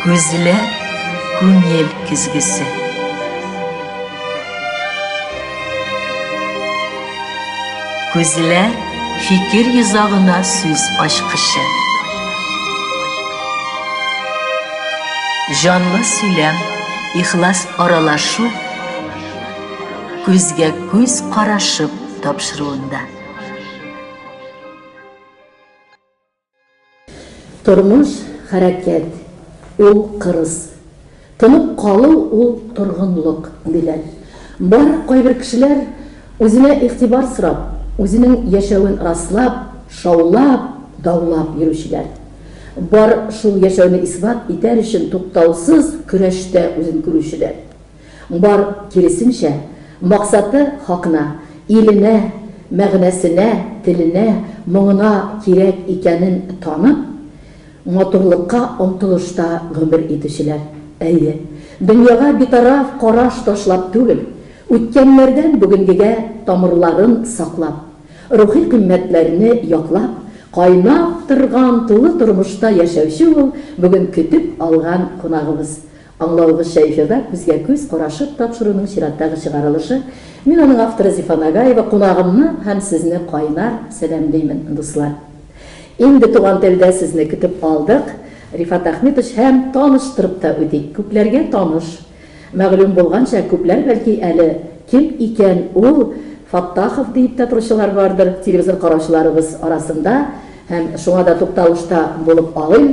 Күзләр күңел көзгесе. Күзләр фикер йозагына сүз ачкычы. Җанлы сөйләм, ихлас аралашу күзгә күз карашып тапшыруында. Тормыш, хәрәкәт, ул кырыс. Тынып калу, ул торгынлык, диләр. Бар, кайбер кешеләр, үзенә игътибар сорап, үзенең яшәвен раслап, шаулап, даулап йөрүчеләр. Бар, шул яшәүне исбат итәр өчен туктаусыз көрәштә үзен күрүчеләр. Бар, киресенчә, максаты хакына, иленә, мәгънәсенә, теленә, моңына кирәк икәнен танып, матурлыкка омтылышта гомер итүчеләр. Әйе, дөньяга битараф караш ташлап түгел, үткәннәрдән бүгенгегә тамырларын саклап, рухи кыйммәтләрне яклап, кайнап торган тулы тормышта яшәүче ул бүген көтеп алган кунагыбыз, Аңлавыгызча, эфирда күзгә-күз карашып тапшыруның чираттагы чыгарылышы. Мин аның авторы Зифа Нагаева, кунагымны һәм сезне кайнар сәламлимен, дуслар. Инде туган телдә сезне көтеп алдык. Рифат Әхмитович һәм таныштырып та үтик, күпләргә таныш. Мәгълүм булганча, күпләр бәлки әле кем икән ул Фаттахов диеп тә торучылар бардыр телевизор караучыларыбыз арасында һәм шуңа да тукталышта булып алыйм.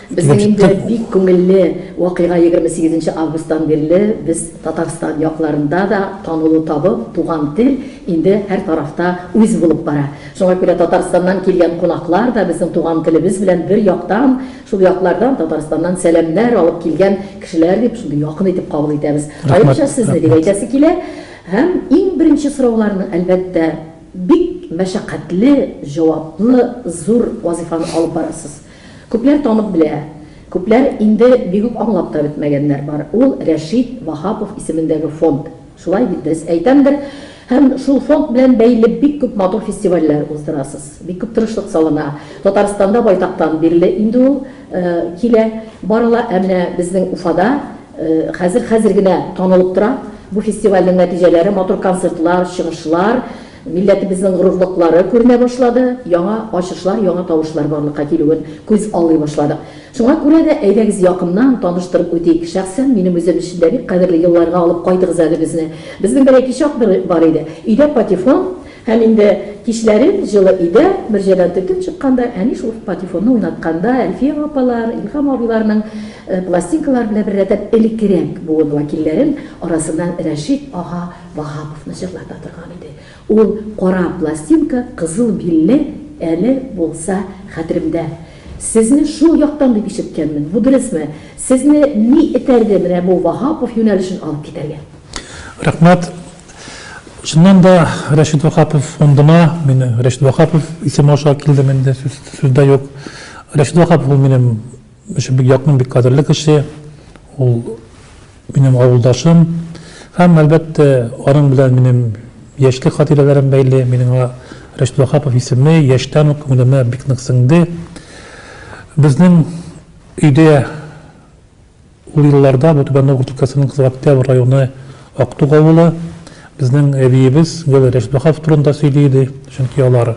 Безнең инде бик күңелле вакыйга егерме сигезенче августтан бирле без Татарстан якларында да танылу табып, туган тел инде һәр тарафта үз булып бара. Шуңа күрә Татарстаннан килгән кунаклар да безнең туган телебез белән бер яктан, шул яклардан, Татарстаннан сәламнәр алып килгән кешеләр дип, шундый якын итеп кабул итәбез. Аеруча сезне дип әйтәсе килә. Һәм иң беренче сорауларны, әлбәттә, бик мәшәкатьле, җаваплы, зур вазыйфаны алып барасыз. Күпләр танып белә, күпләр инде бик үк аңлап та бетмәгәннәр бар, ул Рәшит Ваһапов исемендәге фонд, шулай бит, дөрес әйтәмдер? Һәм шул фонд белән бәйле бик күп матур фестивальләр уздырасыз, бик күп тырышлык салына. Татарстанда байтактан бирле инде ул килә, барыла, ә менә безнең Уфада хәзер, хәзер генә танылып тора бу фестивальнең нәтиҗәләре, матур концертлар, чыгышлар, Милләтебезнең горурлыклары күренә башлады, яңа ачышлар, яңа тавышлар барлыкка килүен күз алый башладык. Шуңа күрә дә, әйдәгез якыннан таныштырып үтик. Шәхсән минем үзем өчен дә бик кадерле елларга алып кайтыгыз әле безне. Безнең бер әти чак бер бар иде. Өйдә патефон һәм инде кичләрен җылы өйдә, мөрҗәдән төртеп чыкканда, әни шул патефонны уйнатканда, Әлфия апалар, Илһам абыйларның пластинкалары белән беррәттән элеккерәк буын вәкилләрен арасыннан Рәшит ага Ваһаповны җырлата торган иде. Ул кара пластинка, кызыл билле, әле булса хәтеремдә. Сезне шул яктан дип ишеткәнмен. Бу дөресме? Сезне ни этәрде менә бу Ваһапов юнәлешен алып китәргә? Рәхмәт. Чыннан да, Рәшит Ваһапов фондына мин Рәшит Ваһапов исеме аша килдем инде, сүз, сүз дә юк. Рәшит Ваһапов ул минем Өчен бик якын, бик кадерле кеше. Ул минем авылдашым. Һәм, әлбәттә, аның белән минем яшьлек хатирәләрем бәйле. Минем аңа Рәшит Ваһапов исеме яшьтән үк күңелемә бик нык сеңде. Безнең өйдә ул елларда бу Түбән Новгород өлкәсенең Кызыл Октябрь районы Актук авылы. Безнең әбиебез гел Рәшит Ваһапов турында сөйли иде, чөнки алар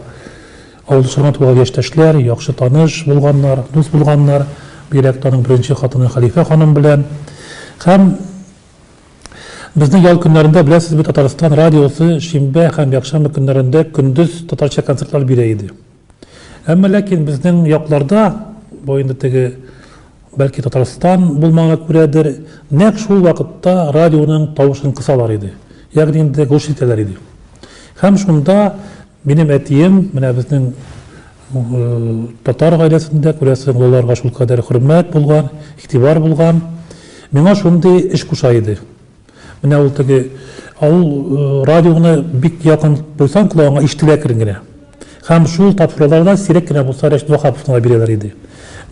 Ул соңрак туган яшьтәшләр, яхшы таныш булганнар, дус булганнар, бигрәк тә аның беренче хатыны Хәлифә ханым белән. Һәм безнең ял көннәрендә, беләсез бит, Татарстан радиосы шимбә һәм якшәмбе көннәрендә көндез татарча концертлар бирә иде. Әмма ләкин безнең якларда, бу инде теге, бәлки, Татарстан булмаганга күрәдер, нәкъ шул вакытта радионың тавышын кысалар иде, ягъни инде глушить итәләр иде. Һәм шунда Минем әтием, менә безнең татар гаиләсендә, күрәсең, олыларга шул кадәр хөрмәт булган, игътибар булган. Миңа шундый эш куша иде. Менә ул теге авыл э, радионы бик якын куйсаң колагыңа ишетелә кирен генә. Һәм шул тапшыруларда сирәк кенә булса Рәшит Вахаповны бирәләр иде.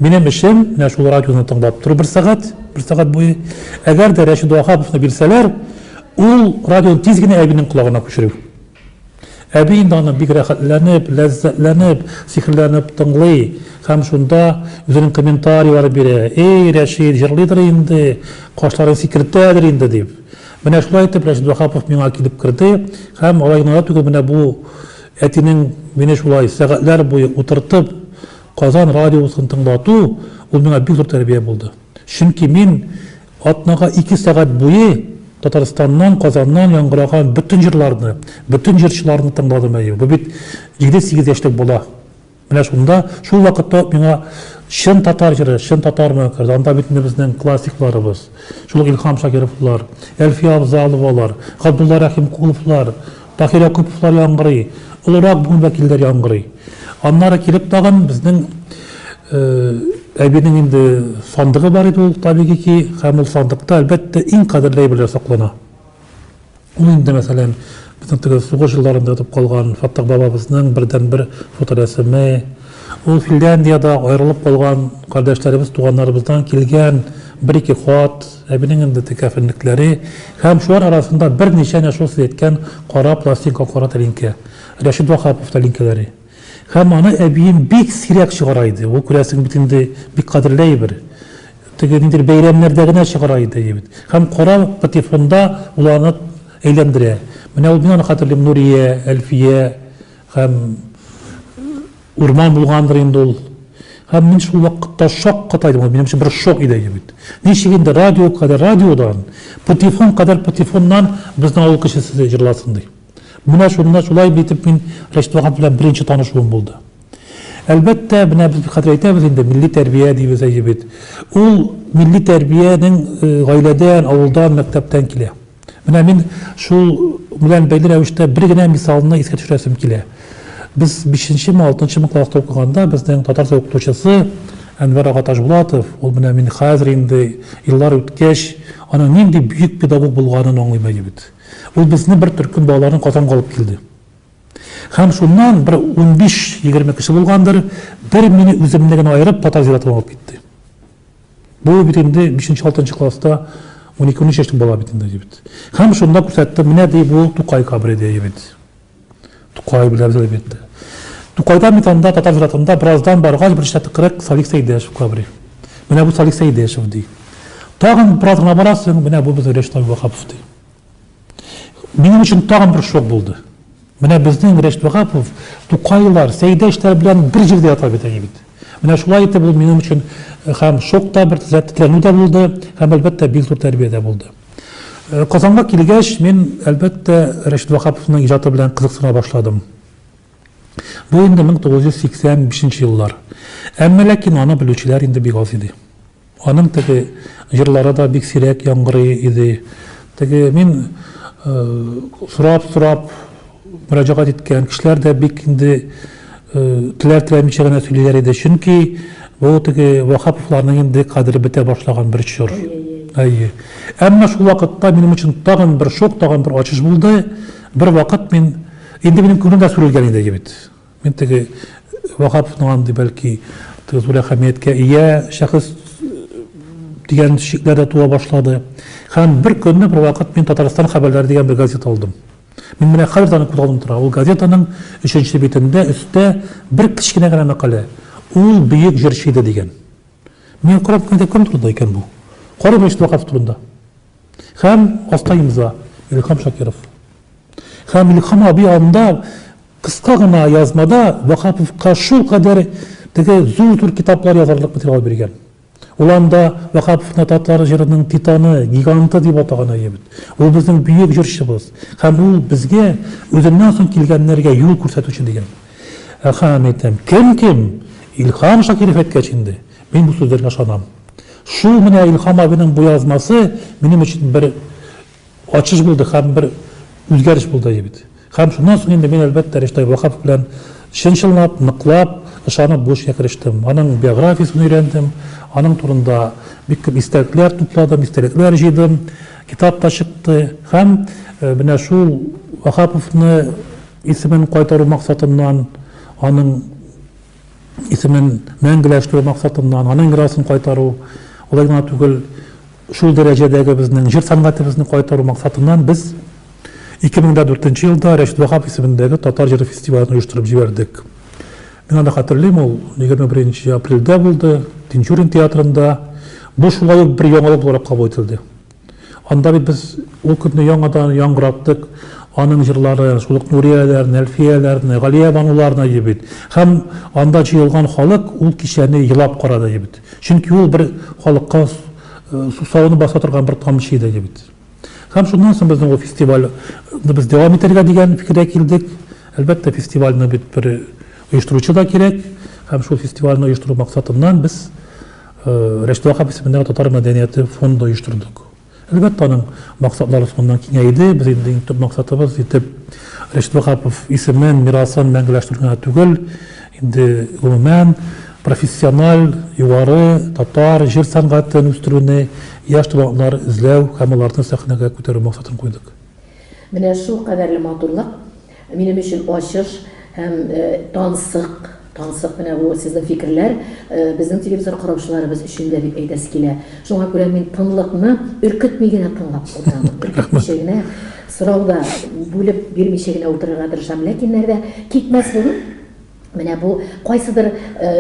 Минем эшем менә шул радионы тыңлап тору бер сәгать, бер сәгать буе. Әгәр дә Рәшит Вахаповны бирсәләр, ул радионы тиз генә әбинең колагына күчерү. Әби инде аны бик рәхәтләнеп, ләззәтләнеп, сихерләнеп тыңлый һәм шунда үзенең комментарийлары бирә, Эй, Рәшит, җырлыйдыр инде, кашларын сикертәдер инде, дип. Менә шулай итеп Рәшит Ваһапов миңа килеп керде һәм алай гына да түгел, менә бу әтинең мине шулай сәгатьләр буе утыртып Казан радиосын тыңлату, ул миңа бик зур тәрбия булды. Чөнки мин Атнага ике сәгать буе Татарстаннан, Казаннан яңгыраган бөтен җырларны, бөтен җырчыларны тыңладым, әйе, бу бит җиде-сигез яшьлек бала. Менә шунда, шул вакытта ук миңа чын татар җыры, чын татармы, керде. Анда бит менә безнең классикларыбыз, шул ук Илһам Шакировлар, Әлфия Авзаловалар, Габдулла Рәхимкуловлар, Таһир Якуповлар яңгырый, олырак буын вәкилләре яңгырый. Аннары килеп тагын безнең әбинең инде сандыгы бар иде ул, табигый ки, һәм ул сандыкта, әлбәттә, иң кадерле әйберләр саклана. Ул инде, мәсәлән, безнең теге сугыш елларында ятып калган Фаттах бабабызның бердәнбер фоторәсеме, ул Финляндиядә аерылып калган кардәшләребез, туганнарыбыздан килгән бер-ике хат, Әбинең инде текә фенлекләре һәм шулар арасында берничә нәшул сирәткән кара пластинка кара тәлинкә, Рәшит Ваһапов тәлинкәләре. Һәм аны әбием бик сирәк чыгара иде. Ул, күрәсең, бит инде бик кадерле әйбер. Теге ниндидер бәйрәмнәрдә генә чыгара иде әйбер. Һәм кара патефонда ул аны әйләндерә. Менә ул мин аны хәтерлим, Нурия, Әлфия һәм. Урман булгандыр инде ул. Һәм мин шул вакытта шаккатайдым, ул минем өчен бер шок иде инде бит. Ничек инде радио кадәр радиодан, патефон кадәр патефоннан безнең авыл кешесе җырласын ди. Менә шунда шулай итеп мин Рәшит Ваһап белән беренче танышуым булды. Әлбәттә, менә без хәзер әйтәбез инде, милли тәрбия дибез әйе бит. Ул милли тәрбиянең гаиләдән, авылдан, мәктәптән килә. Менә мин шул белән бәйле рәвештә бер генә мисалны искә төшерәсем килә. Без 5-ме, 6-мы класста укыганда безнең татарча укытучысы Әнвәр ага Ташбулатов, ул менә мин хәзер инде еллар үткәч, аның нинди бөек педагог булганын аңлыйм әле бит. Ул безне бер төркем балаларын Казанга алып килде. Һәм шуннан бер 15-20 кеше булгандыр, бер мине үземне генә аерып татар зиратына алып китте. Бу бит инде 5-6 класста унике унөч яшьлек бала бит инде дибит. Һәм шунда күрсәтте, менә ди бу Тукай кабре ди бит. Тукай беләбез ди бит. Тукайда бит анда татар зиратында бераздан баргач бер чатыкрык Салих Сәйдәшев кабре. Менә бу Салих Сәйдәшев ди. Тагын бераз гына барасың, менә бу безнең Рәшит Абубакапов ди. Минем өчен тагын бер шок булды. Менә безнең Рәш Вагапов, Тукайлар, Сәйдәштәр белән бер җирдә ята бит әни бит. Менә шулай итеп ул минем өчен э, һәм шок та бер тетрәнү дә булды, һәм әлбәттә бик зур тәрбия дә булды. Э, Казанга килгәч, мин әлбәттә Рәш Вагаповның иҗаты белән кызыксына башладым. Бу инде 1985 еллар. Әмма ләкин аны белүчеләр инде бик аз иде. Аның теге җырлары да бик сирәк яңгырый иде. Теге мин сорап-сорап мөрәҗәгать иткән кешеләр дә бик инде теләр-теләмичә генә сөйлиләр иде. Чөнки бу теге Ваһаповларның инде кадере бетә башлаган бер чор. Әйе. Әмма шул вакытта минем өчен тагын бер шок, тагын бер ачыш булды. Бервакыт мин, инде минем күңелем дә сүрелгән иде бит. Мин теге Ваһаповның андый, бәлки, теге зур әһәмияткә ия шәхес дигән шикләр дә туа башлады. Һәм бер көнне бер вакыт мин Татарстан хәбәрләре дигән бер газета алдым. Мин менә хәзер дә аны күз алдымда тора. Ул газетаның өченче битендә өстә бер кечкенә генә мәкалә. Ул бөек җырчы иде дигән. Мин карап кына кем турында икән бу? Карыйм Рәшит Ваһапов турында. Һәм аста имза, Илһам Шакиров. Һәм Илһам абый анда кыска гына язмада Ваһаповка шулкадәр теге зур-зур китаплар язарлык материал биргән. Ул анда Ваһаповны татар җырының титаны, гиганты дип атаган әле бит. Ул безнең бөек җырчыбыз. Һәм ул безгә үзеннән соң килгәннәргә юл күрсәтүче дигән. Һәм әйтәм, кем-кем, Илһам Шакиров әйткәч инде, мин бу сүзләргә ышанам. Шул менә Илһам абыйның бу язмасы минем өчен бер Ачыш булды һәм бер үзгәреш булды бит. Һәм шуннан соң инде мин, әлбәттә, Риштай Ваһапов белән чын-чынлап, ныклап, ышанып бу эшкә керештем. Аның биографиясен өйрәндем, аның турында бик күп истәлекләр тупладым, истәлекләр җыйдым, китап та чыкты. Һәм менә шул Ваһаповны исемен кайтару максатыннан, аның Исемен мәңгеләштерү максатыннан, аның мирасын кайтару, алай гына түгел, шул дәрәҗәдәге безнең җыр сәнгатебезне кайтару максатыннан без 2004 нче елда Рәшит Ваһап исемендәге татар җыры фестивален оештырып җибәрдек. Мин аны хәтерлим, ул 21 нче апрельдә булды, Тинчурин театрында. Бу шулай ук бер яңалык буларак кабул ителде. Анда бит без ул көнне яңадан яңгыраттык аның җырлары, шул ук Нурияләрне, Әлфияләрне, Галиябануларны иде бит. Һәм анда җыелган халык ул кичәне елап карады иде бит. Чөнки ул бер халыкка сусавын баса торган бер тамчы иде иде бит. Һәм шуннан соң безнең ул фестиваль без дәвам итәргә дигән фикергә килдек. Әлбәттә, фестивальне бит бер оештыручы да кирәк. Һәм шул фестивальне оештыру максатыннан без Рәшит Ваһап исемендәге татар мәдәнияте фонды оештырдык. Әлбәттә, аның максатлары шуннан киңәйде. Без инде иң төп максатыбыз итеп Рәшит Ваһапов исемен, мирасын мәңгеләштерү генә түгел, инде гомумән, профессиональ, югары татар җыр сәнгатен үстерүне, яшь талантлар эзләү һәм аларны сәхнәгә күтәрү максатын куйдык. Менә шул кадәрле матурлык! Минем өчен ачыш һәм тансык, тансык менә бу сезнең фикерләр безнең телевизор караучыларыбыз өчен дә дип әйтәсе килә. Шуңа күрә мин тынлыкны өркетми генә тыңлап утырам. Өркетмичә генә, сорау да бүлеп бирмичә генә утырырга тырышам. Ләкин нәрдә китмәслеген, Менә бу кайсыдыр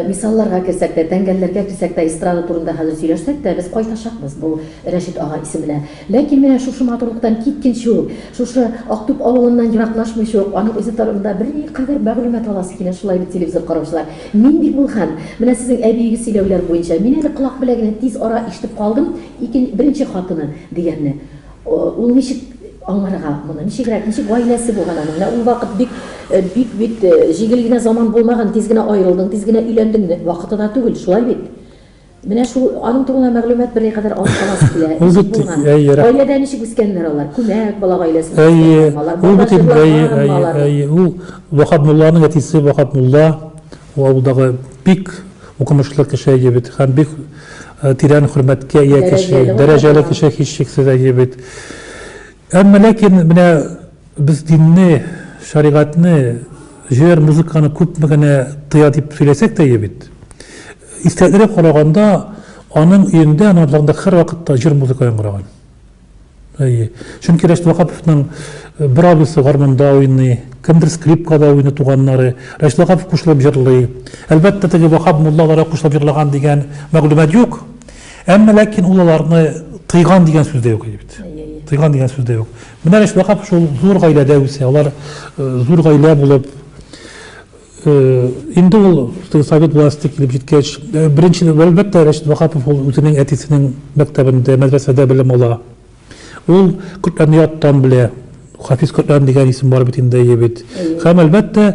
мисалларга керсәк тә, тәңгәлләргә килсәк тә, эстрада турында хәзер сөйләшсәк тә, без кайтачакбыз бу Рәшит ага исеменә. Ләкин менә шушы матурлыктан киткенче үк, шушы Актүп авылыннан ераклашмыйча ук, аның үзе турында бер никадәр мәгълүмат аласы килә, шулай бит, телевизор караучылар? Мин бит ул хәл, менә сезнең әбиегез сөйләүләр буенча, мин әле колак беләгенә тиз ара ишетеп калдым, ике, беренче хатыны дигәнне. Ул ничек аңларга моны? Ничегрәк, ничек гаиләсе булган аның? Менә ул вакыт бик, бик бит җигел генә заман булмаган, тиз генә аерылдың, тиз генә өйләндең, вакытына түгел, шулай бит? Менә шул аның турында мәгълүмат берникадәр алып карасы килә. Ничек булган? Гаиләдә ничек үскәннәр алар? Күмәк бала гаиләсендә үскәннәр алар. Әйе, ул бит инде, әйе, әйе, әйе. Ул Ваһап мулланың әтисе, Ваһап мулла. Ул авылдагы бик укымышлы кеше, әйе бит, һәм бик тирән хөрмәткә ия кеше, дәрәҗәле кеше, һичшиксез, әйе бит. Әмма ләкин менә без динне, шәригатьне, җыр, музыканы күпме генә тыя дип сөйләсәк тә, әйе бит. Истәлекләргә караганда, аның өендә, аның абзарында һәрвакытта җыр-музыка яңгыраган. Әйе. Чөнки Рәшит Ваһаповның бер абыйсы гармунда уйный, кемдер скрипкада уйный, туганнары. Рәшит Ваһапов кушылып җырлый. Әлбәттә, теге Ваһап мулла аларга кушылып җырлаган дигән мәгълүмат юк. Әмма ләкин ул аларны тыйган дигән сүз дә юк иде бит. Тыйган дигән сүз дә юк. Менә Рәшит Ваһапов шул зур гаиләдә үсә. Алар зур гаилә булып Инде ул совет власте килеп җиткәч, беренче, әлбәттә, Рәшит Ваһапов ул үзенең әтисенең мәктәбендә, мәдрәсәдә белем ала. Ул Коръәнне яттан белә. Хафиз Коръән дигән исем бар бит инде, әйе бит. Һәм, әлбәттә,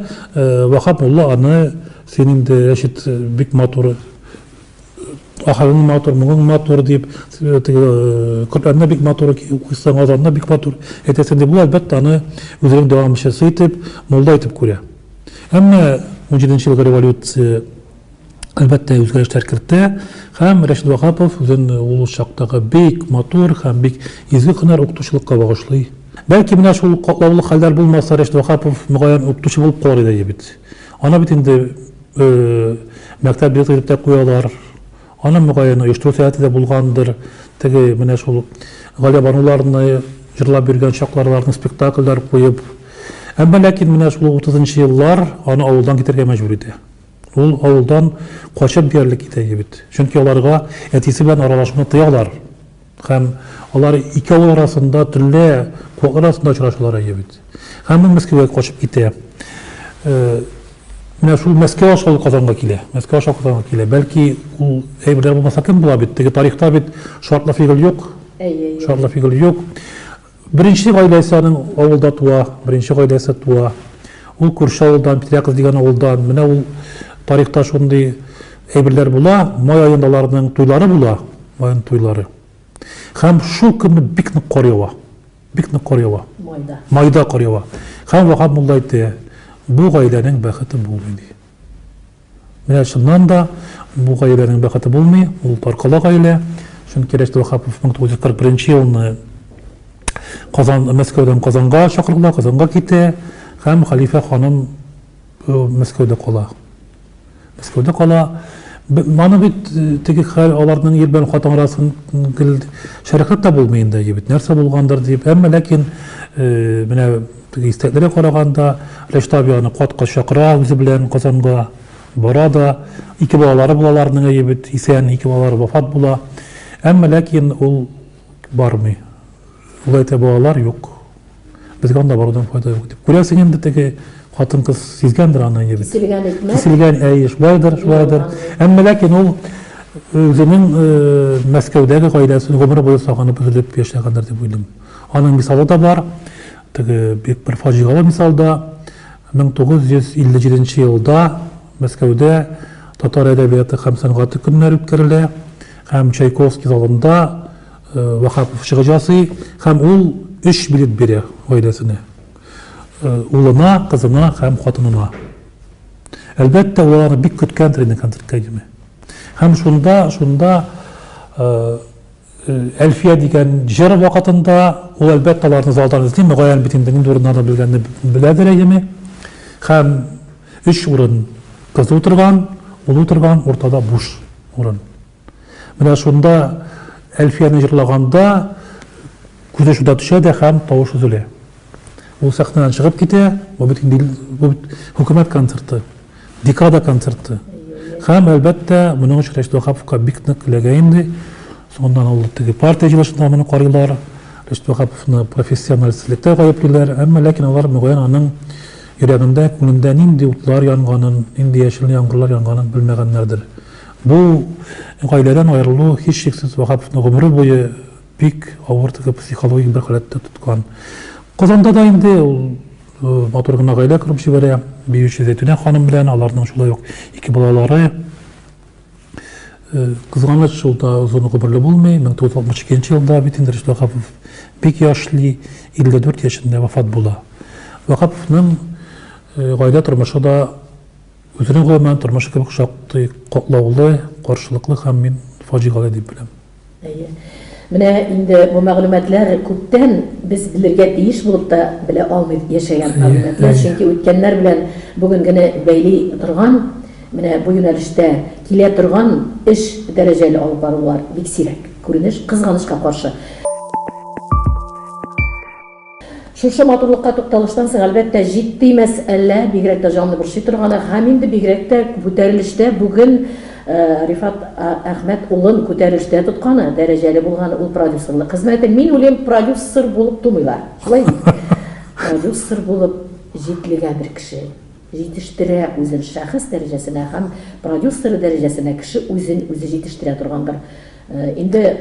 Ваһап мулла аны, син инде, Рәшит, бик матур Ахырың матур, моңың матур дип, теге Коръәнне бик матур укыйсың, азанны бик матур әйтәсең дип, ул әлбәттә аны үзенең дәвамчысы итеп, мулла итеп күрә. Әмма 17 елгы революция әлбәттә үзгәрешләр кертә һәм Рәшид Вахапов үзен ул чактагы бик матур һәм бик изге һөнәр укытучылыкка багышлый. Бәлки менә шул катлаулы хәлләр булмаса, Рәшид Вахапов мөгаен укытучы булып калыр иде бит. Ана бит инде Мәктәп билеты дип тә куялар. Аны, мөгаен, оештыру сәләте дә булгандыр. Теге, менә шул Галиябануларны җырлап йөргән чакларларны спектакльләр куеп. Әмма ләкин менә шул утызынчы еллар аны авылдан китәргә мәҗбүр итә. Ул авылдан качып диярлек китә иде бит. Чөнки аларга әтисе белән аралашуны тыялар. Һәм алар ике авыл арасында төнлә куаклар арасында очрашалар әйе бит. Һәм ул Мәскәүгә качып китә. Менә шул Мәскәү аша ул Казанга килә. Мәскәү аша Казанга килә. Бәлки ул әйберләр булмаса кем була бит? Теге тарихта бит шартлы фигыль юк. Әйе, юк. Шартлы фигыль юк. Беренче гаиләсе аның авылда туа, беренче гаиләсе туа. Ул күрше авылдан, Петряков дигән авылдан. Менә ул тарихта шундый әйберләр була, май аенда аларның туйлары була, май туйлары. Хәм шул көнне бик нык кар ява. Бик нык кар ява. Майда. Майда кар ява. Хәм Вахаб мулла әйтте, бу гаиләнең бәхете булмый ди. Менә чыннан да, бу гаиләнең бәхете булмый, ул таркала гаилә, чөнки Рәшит Ваһапов 1941 елны Казан, Мәскәүдән Казанга чакырыла, Казанга китә һәм хәлифә ханым Мәскәүдә кала. Мәскәүдә кала. Маны бит теге хәл аларның ир белән хатын арасын гел шәрехләп тә булмый инде, бит нәрсә булгандыр дип. Әмма ләкин менә Теге истәлекләргә караганда, Рәшит абый аны кат-кат чакыра үзе белән Казанга. Бара да. Ике балалары була аларның, әйе бит, исән, ике балалары вафат була. Әмма ләкин ул бармый. Ул әйтә, балалар юк. Безгә анда барудан файда юк дип. Күрәсең инде теге хатын-кыз сизгәндер аны, әйе бит. Киселгән икмәк. Киселгән, әйе, шулайдыр, шулайдыр. Әмма ләкин ул үзенең Мәскәүдәге гаиләсен гомер буе сагынып, өзелеп яшәгәндер дип уйлыйм. Аның мисалы да бар. Теге бик бер фаҗигале мисал да. 1957 елда Мәскәүдә татар әдәбияты һәм сәнгате көннәре үткәрелә һәм Чайковский залында Вахапов чыгыш ясый һәм ул өч билет бирә гаиләсенә. Улына, кызына һәм хатынына. Әлбәттә, ул аларны бик көткәндер инде концертка килми. Һәм шунда, шунда Әлфия дигән җыр вакытында ул әлбәттә аларны залдан эзли, мөгаен бит инде нинди урыннарда белгәнне беләдер әйеме. Һәм өч урын кыз утырган, ул утырган, уртада буш урын. Менә шунда Әлфияне җырлаганда күзе шунда төшә дә һәм тавыш өзелә. Ул сәхнәдән чыгып китә, бу бит инде бу бит хөкүмәт концерты, декада концерты. Һәм, әлбәттә, моның өчен Рәшит Ваһаповка бик нык эләгә инде. Соңыннан ул теге партия җыелышында моны карыйлар, Рәшит Ваһаповны профессионалистсызлыкта гаеплиләр, әмма ләкин алар, мөгаен, аның йөрәгендә, күңелендә нинди утлар янганын, нинди яшел яңгырлар янганын белмәгәннәрдер. Бу гаиләдән аерылу, һичшиксез, Ваһаповны гомере буе Бик авыр теге психологик бер халәттә тоткан. Казанда да инде ул матур гына гаилә корып җибәрә. Биюче Зәйтүнә ханым белән аларның шулай ук ике балалары. Кызганыч, шул да озын гомерле булмый. 1962 елда бит инде Рөстәм Вахапов бик яшьли, 54 яшендә вафат була. Вахаповның гаилә тормышы да үзенең гомумән тормышы кебек шактый катлаулы, каршылыклы һәм мин фаҗигале дип беләм. Әйе. Менә инде бу мәгълүматлар күптән без белергә тиеш булып та белә алмый яшәгән мәгълүматлар, чөнки үткәннәр белән бүгенгене бәйли торган, менә бу юнәлештә килә торган эш, дәрәҗәле алып барулар бик сирәк күренеш, кызганычка каршы. Шушы матурлыкка тукталыштан соң, әлбәттә, җитди мәсьәлә, бигрәк тә җанны борчый торганы, һәм инде бигрәк тә күтәрелештә бүген Рифат Әхмәт улын күтәрелештә тотканы, дәрәҗәле булганы ул продюсерлык хезмәте. Мин уйлыйм, продюсер булып тумыйлар, шулай бит? Продюсер булып җитлегә бер кеше җитештерә үзен шәхес дәрәҗәсенә һәм продюсеры дәрәҗәсенә кеше үзен үзе җитештерә торгандыр инде.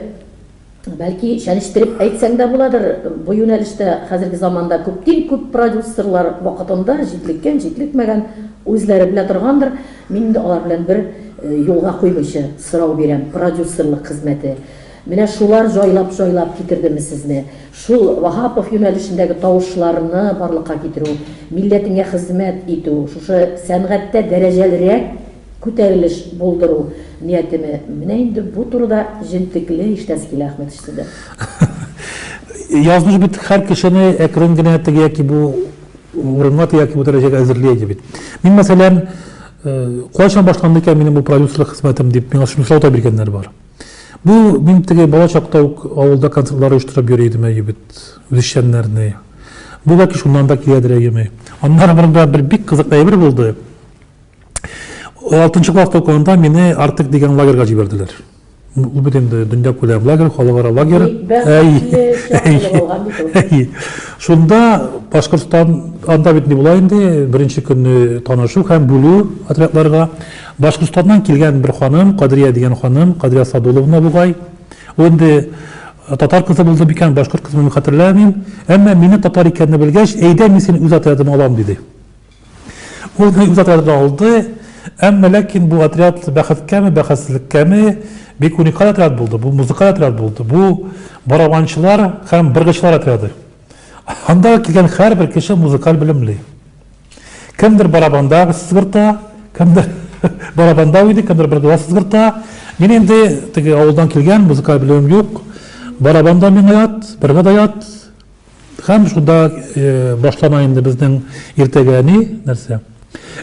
Бәлки, чәнечтереп әйтсәң дә буладыр, бу юнәлештә хәзерге заманда күптин күп продюсерлар вакытында җитлеккән, җитлекмәгән, үзләре белә торгандыр. Мин инде алар белән бер юлга куймыйча сорау бирәм, продюсерлык хезмәте, менә шулар җайлап-җайлап китердеме сезне? Шул Ваһапов юнәлешендәге тавышларны барлыкка китерү, милләтеңә хезмәт итү, шушы сәнгатьтә дәрәҗәлерәк күтәрелеш булдыру ниятеме? Менә инде бу турыда җентекле иштәсе килә, Әхмәт Шсидер. Язмыш бит һәр кешене әкрен генә теге яки бу урынга, теге яки бу дәрәҗәгә әзерли иде бит. Мин, мәсәлән, кайчан башланды икән минем бу продюсерлык хезмәтем дип миңа шунысы ата биргәннәр бар. Бу мин теге бала чакта ук авылда концертлар оештырып йөри идем әйе бит, үзешчәннәрне. Бу бәлки шуннан да киләдер әйеме. Аннары монда бер бик кызык әйбер булды. Алтынчы класс токуында мине Артык дигән лагерьга җибәрделәр. Ул бит инде дөнья күләм лагерь, халыкара лагерь. Әй. Шунда Башкортстан анда бит ни була инде, беренче көнне танышу һәм бүлү отрядларга. Башкортстаннан килгән бер ханым, Кадрия дигән ханым, Кадрия Садуловна бугай. Ул инде татар кызы булды микән, башкорт кызы мин хәтерләмим. Әмма мине татар икәнне белгәч, әйдә мин сине үз отрядыма алам диде. Ул үз отрядын алды, әмма ләкин бу отряд бәхеткәме, бәхетсезлеккәме, бик уникаль отряд булды. Бу музыкаль отряд булды. Бу барабанчылар һәм быргычлар отряды. Анда килгән һәрбер кеше музыкаль белемле. Кемдер барабанда сызгырта, кемдер барабанда уйный, кемдер быргыда сызгырта. Мин инде теге авылдан килгән, музыкаль белемем юк. Барабанда миңа ят, быргыда ят, Һәм шунда башлана инде безнең иртәгә ни, нәрсә.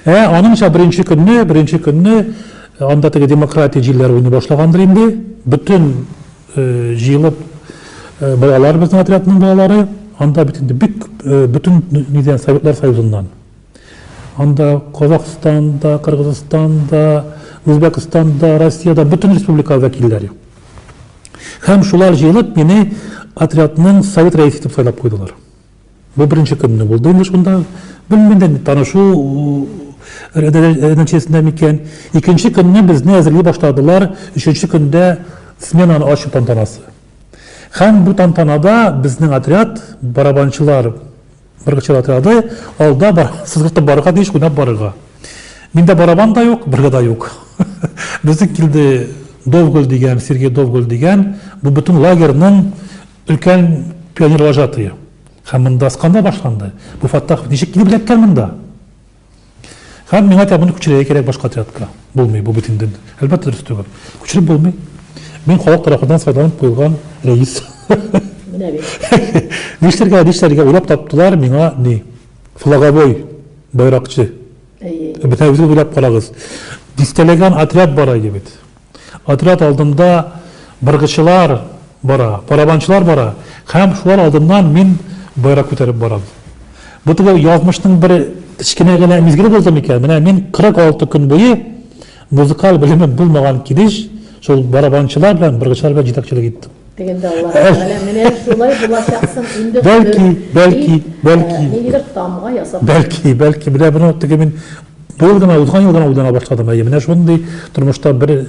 Ә аныңча беренче көнне, беренче көнне анда теге демократия җилләре уйный башлагандыр инде. Бөтен җыелып балалар безнең отрядның балалары, анда бит инде бик бөтен нидән Советлар Союзыннан. Анда Казахстанда, Кыргызстанда, Үзбәкстанда, Россиядә бөтен республика вәкилләре. Һәм шулар җыелып мине отрядның совет рәисе итеп сайлап куйдылар. Бу беренче көнне булды инде шунда. Белмәдем, танышу нәтиҗәсендә микән. Икенче көнне безне әзерли башладылар. Өченче көндә сменаны ачу тантанасы. Һәм бу тантанада безнең отряд барабанчылар Бер чиратыады, алда бар, сызгыртып барырга тиеш, уйнап барырга. Миндә барабан да юк, бергә дә юк. Безнең килде Довгөл дигән, Сергей Довгөл дигән, бу бөтен лагерьның өлкән пионер вожатые. Һәм монда скандал башланды. Бу Фаттахов ничек килеп эләккән монда? Һәм миңа тәбүне күчерергә кирәк башка отрядка. Булмый, бу бит инде. Әлбәттә, дөрес түгел. Күчереп булмый. Мин халык тарафыннан сайланып куелган рәис. Менә бит. Нишләргә, нишләргә уйлап таптылар миңа ни? Флаговой байракчы. Әйе. Бетәвезгә уйлап карагыз. Дистәләгән отряд бар иде бит. Отряд алдында быргычылар бара, барабанчылар бара һәм шулар алдыннан мин байрак күтәреп барам. Бу теге язмышның бер кечкенә генә мизгеле булды микән? Менә мин 46 көн буе музыкаль белеме булмаган килеш шул барабанчылар белән, быргычылар белән җитәкчелек иттем. Дигәндә Аллаһ Тәгалә менә шулай булачаксың инде Бәлки, бәлки, бәлки. Ниндидер тамга ясап. Бәлки, бәлки. Менә бу теге мин быел гына, узган ел гына уйлана башладым. Әйе, менә шундый тормышта бер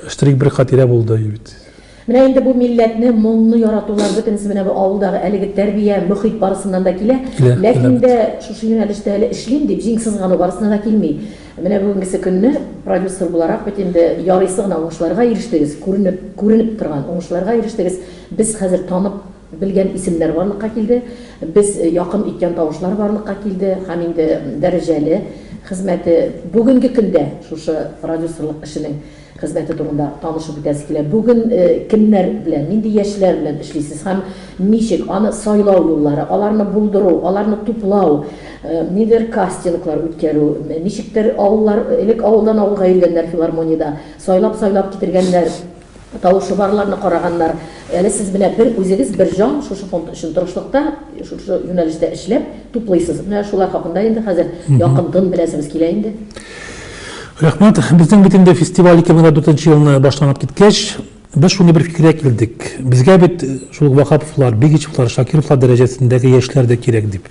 штрих, бер хатирә булды бит. Менә инде бу милләтне, моңны яратулар бөтенесе менә бу авылдагы әлеге тәрбия, мөхит барысыннан да килә. Ләкин дә шушы юнәлештә әле эшлим дип җиң сызгану барысына да килми. Менә бүгенгесе көнне продюсер буларак бит инде ярыйсы гына уңышларга ирештегез, күренеп, күренеп торган уңышларга ирештегез. Без хәзер танып белгән исемнәр барлыкка килде, без якын иткән тавышлар барлыкка килде һәм инде дәрәҗәле хезмәте бүгенге көндә шушы продюсерлык эшенең. Хезмәте турында танышып үтәсе килә. Бүген кемнәр белән, нинди яшьләр белән эшлисез һәм ничек аны сайлау юллары, аларны булдыру, аларны туплау, ниндидер кастинглар үткәрү, ничектер авыллар, элек авылдан авылга йөргәннәр филармониядә, сайлап-сайлап китергәннәр, тавышы барларны караганнар. Әле сез менә бер үзегез, бер җан шушы фонд өчен тырышлыкта, шушы юнәлештә эшләп, туплыйсыз. Менә шулар хакында инде хәзер якынтын беләсебез килә инде. Рәхмәт. Безнең бит инде фестиваль 2004 нче елны башланып киткәч, без шундый бер фикергә килдек. Безгә бит шул ук Ваһаповлар, Бигичевлар, Шакировлар дәрәҗәсендәге яшьләр дә кирәк дип.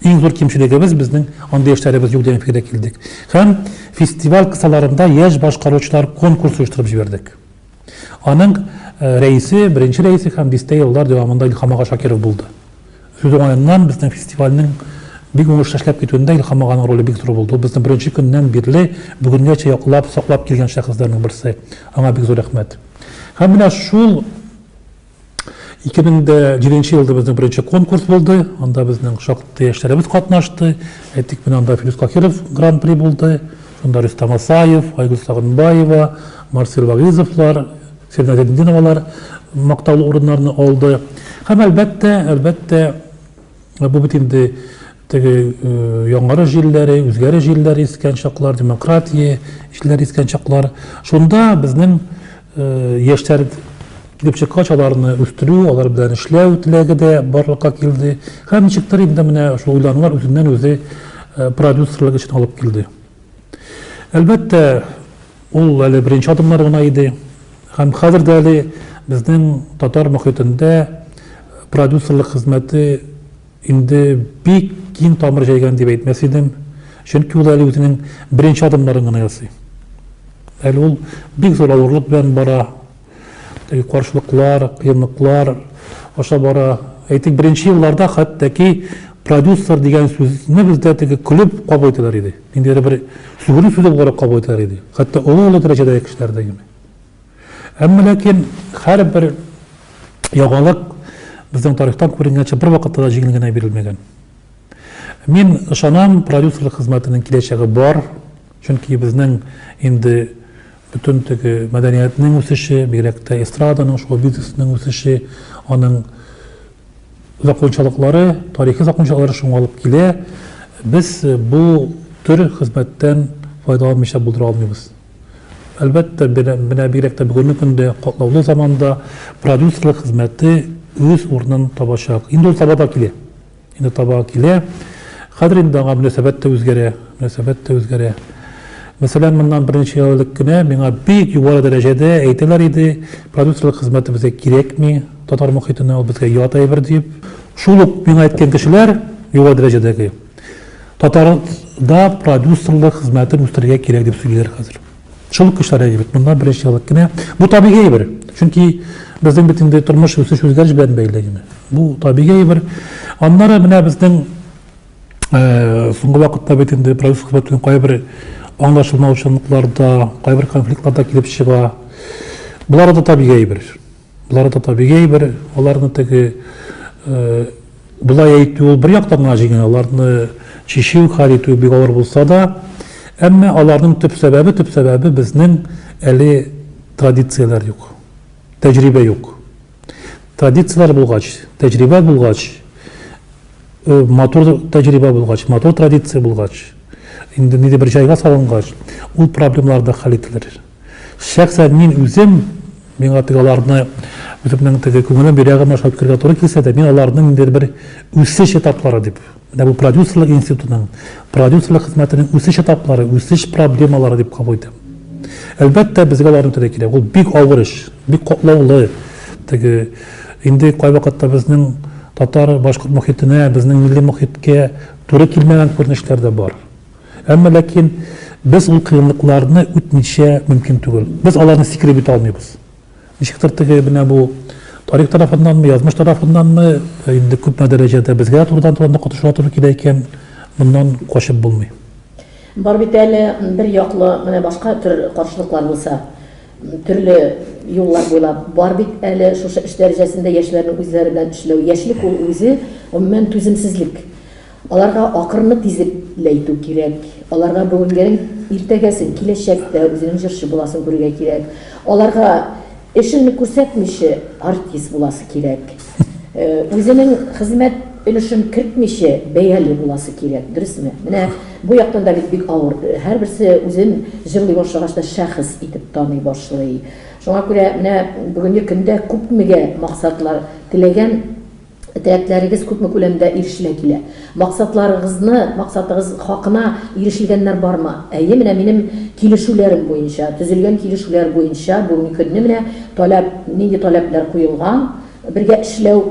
Иң зур кимчелегебез безнең андый яшьләребез юк дигән фикергә килдек. Һәм фестиваль кысаларында яшь башкаручылар конкурсы оештырып җибәрдек. Аның рәисе, беренче рәисе һәм дистә еллар дәвамында Илһам ага Шакиров булды. Сүз уңаеннан, безнең фестивальнең бик уңышлы эшләп китүендә Илһам аганың роле бик зур булды. Ул безне беренче көннән бирле бүгенгәчә яклап, саклап килгән шәхесләрнең берсе. Аңа бик зур рәхмәт. Һәм менә шул 2007 нче елда безнең беренче конкурс булды, анда безнең шактый яшьләребез катнашты. Әйтик, менә анда Филүс Кахиров гран-при булды, шунда Рөстәм Асаев, Айгөл Сагынбаева, Марсель Вагизовлар, Сирина Зәдетдиновалар мактаулы урыннарны алды. Һәм әлбәттә, әлбәттә, бу бит инде Теге яңгыры җилләре, үзгәре җилләре искән чаклар, демократия җилләре искән чаклар. Шунда безнең яшьләр килеп чыккач, аларны үстерү, алар белән эшләү теләге дә барлыкка килде. Һәм ничектер инде менә шул уйланулар үзеннән-үзе продюсерлык эшен алып килде. Әлбәттә, ул әле беренче адымнар гына иде. Һәм хәзер дә әле безнең татар мөхитендә продюсерлык хезмәте Инде бик киң тамыр җәйгән дип әйтмәс идем, чөнки ул әле үзенең беренче адымнарын гына ясый. Әле ул бик зур авырлык белән бара, теге каршылыклар, кыенлыклар аша бара. Әйтик, беренче елларда хәтта-ки продюсер дигән сүзне бездә теге көлеп кабул итәләр иде. Ниндидер бер сүгенү сүзе буларак кабул итәләр иде. Хәтта олы-олы дәрәҗәдәге кешеләр дә. Әмма ләкин һәрбер яңалык безнең тарихтан күренгәнчә бервакытта да җиңел генә бирелмәгән. Мин ышанам, продюсерлык хезмәтенең киләчәге бар, чөнки безнең инде бөтен теге мәдәниятнең үсеше, бигрәк тә эстраданың, шоу бизнесының үсеше, аның закончалыклары, тарихи закончалыклары шуңа алып килә. Без бу төр хезмәттән файдаланмыйча булдыра алмыйбыз. Әлбәттә, менә бигрәк тә бүгенге көндә, катлаулы заманда продюсерлык хезмәте үз урынын табачак. Инде ул таба да килә. Инде таба килә. Хәзер инде аңа мөнәсәбәт тә үзгәрә, мөнәсәбәт тә үзгәрә. Мәсәлән, моннан берничә ел элек кенә миңа бик югары дәрәҗәдә әйтәләр иде, продюсерлык хезмәте безгә кирәкми, татар мохитенә ул безгә ят әйбер дип. Шул ук миңа әйткән кешеләр, югары дәрәҗәдәге, Татарда продюсерлык хезмәтен үстерергә кирәк дип сөйлиләр хәзер. Шул кешеләр әйе бит, моннан беренче еллык кенә. Бу табигый әйбер. Чөнки безнең бит инде тормыш үсеш үзгәреш белән бәйле генә. Бу табигый әйбер. Аннары менә безнең э, соңгы вакытта бит инде продюсер хезмәтенең кайбер аңлашылмаучанлыклар да, кайбер конфликтлар да килеп чыга. Болар да табигый әйбер. Болар да табигый бер, аларны теге болай әйтү ул бер яктан гына җиңел, аларны чишү, хәл итү бик авыр булса да, әмма аларның төп сәбәбе, төп сәбәбе безнең әле традицияләр юк, тәҗрибә юк. Традицияләр булгач, тәҗрибә булгач, э, матур тәҗрибә булгач, матур традиция булгач, инде ниндидер бер җайга салынгач, ул проблемалар да хәл ителер. Шәхсән мин үзем, миңа теге аларны үземнең теге күңелем йөрәгем аша үткәрергә туры килсә дә, мин аларның ниндидер бер үсеш этаплары дип, менә бу продюсерлык институтының, продюсерлык хезмәтенең үсеш этаплары, үсеш проблемалары дип кабул итәм. Әлбәттә, безгә аларны үтәргә кирәк. Ул бик авыр эш, бик катлаулы. Теге инде кайвакытта безнең татар башкорт мохитенә, безнең милли мохиткә туры килмәгән күренешләр дә бар. Әмма ләкин без ул кыенлыкларны үтмичә мөмкин түгел. Без аларны сикереп үтә алмыйбыз. Ничектер теге менә бу тарих тарафыннанмы, язмыш тарафыннанмы, э, инде күпме дәрәҗәдә безгә дә турыдан туры катыша туры килә икән, моннан качып булмый. Бар бит әле бер яклы менә башка төр каршылыклар булса, төрле юллар буйлап бар бит әле шушы эш дәрәҗәсендә яшьләрнең үзләре белән эшләү. Яшьлек ул үзе гомумән түземсезлек. Аларга акрынлы тизлекләйтү кирәк. Аларга бүгенгенең иртәгәсен, киләчәктә үзенең җырчы буласын күрергә кирәк. Аларга эшеңне күрсәтмиче артист буласы кирәк. Үзенең хезмәт өлешен кертмиче бәяле буласы кирәк, дөресме? Менә бу яктан да бит бик авыр. Һәрберсе үзен җырлый башлагач та шәхес итеп таный башлый. Шуңа күрә менә бүгенге көндә күпмегә максатлар теләгән, Теләкләрегез күпме күләмдә ирешелә килә? Максатларыгызны, максатыгыз хакына ирешелгәннәр бармы? Әйе, менә минем килешүләрем буенча, төзелгән килешүләр буенча бүгенге көнне менә таләп, нинди таләпләр куелган, бергә эшләү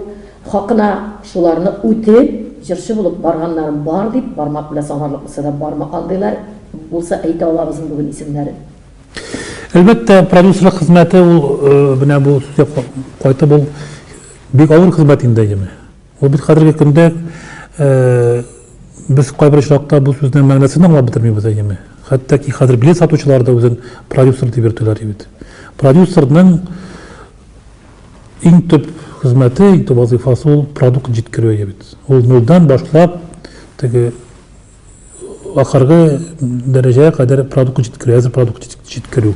хакына, шуларны үтеп, җырчы булып барганнарым бар, дип, бармак белән санарлык булса да бармы, андыйлар булса әйтә алабызмы бүген исемнәрен? Әлбәттә, продюсерлык хезмәте ул, менә бу сүзгә кайтып, ул Бик авыр хезмәт инде, әйеме? Ул бит хәзерге көндә без кайбер очракта бу сүзнең мәгънәсен дә аңлап бетермибез, әйеме? Хәтта ки хәзер билет сатучылар да үзен продюсер дип йөртәләр бит. Продюсерның иң төп хезмәте, иң төп вазыйфасы ул продукт җиткерү бит. Ул нолдан башлап теге ахыргы дәрәҗәгә кадәр продукт җиткерү, әзер продукт җиткерү.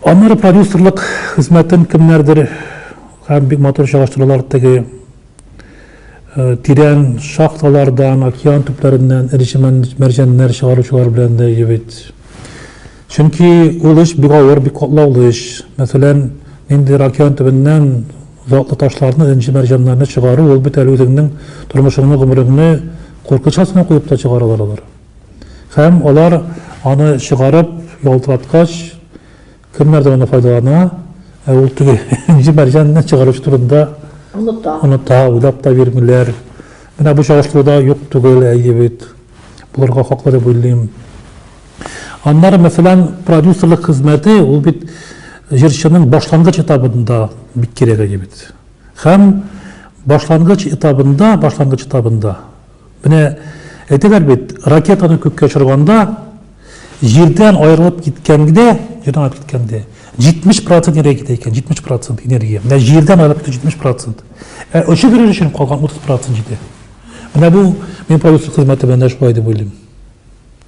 Аннары продюсерлык хезмәтен кемнәрдер һәм бик матур чагыштыралар теге тирән шахталардан, океан төпләреннән эре мәрҗәннәр чыгаручылар белән дә җебит. Чөнки ул эш бик авыр, бик катлаулы эш. Мәсәлән, нинди океан төбеннән затлы ташларны, энҗе мәрҗәннәрне чыгару, ул бит әле үзеңнең тормышыңны, гомереңне куркыныч астына куеп та чыгаралар алар. Һәм алар аны чыгарып ялтыраткач, кемнәрдер аны файдалана, ә ул теге энҗе мәрҗәнне чыгаручы турында оныта. Оныта, уйлап та бирмиләр. Менә бу чагыштыруда юк түгел, әйе бит. Булырга хаклы дип уйлыйм. Аннары, мәсәлән, продюсерлык хезмәте, ул бит җырчының башлангыч этабында бик кирәк әйе бит. Һәм башлангыч этабында, башлангыч этабында Менә әйтәләр бит, ракетаны күккә очырганда, җирдән аерылып киткәнгә, җирдән аерылып киткәндә, 70 процент энергия китә икән, 70 процент энергия. Менә җирдән аерылып китә 70 процент. Ә очып йөрер өчен калган 30 процент җитә. Менә бу мин продюсер хезмәте белән дә шулай дип уйлыйм.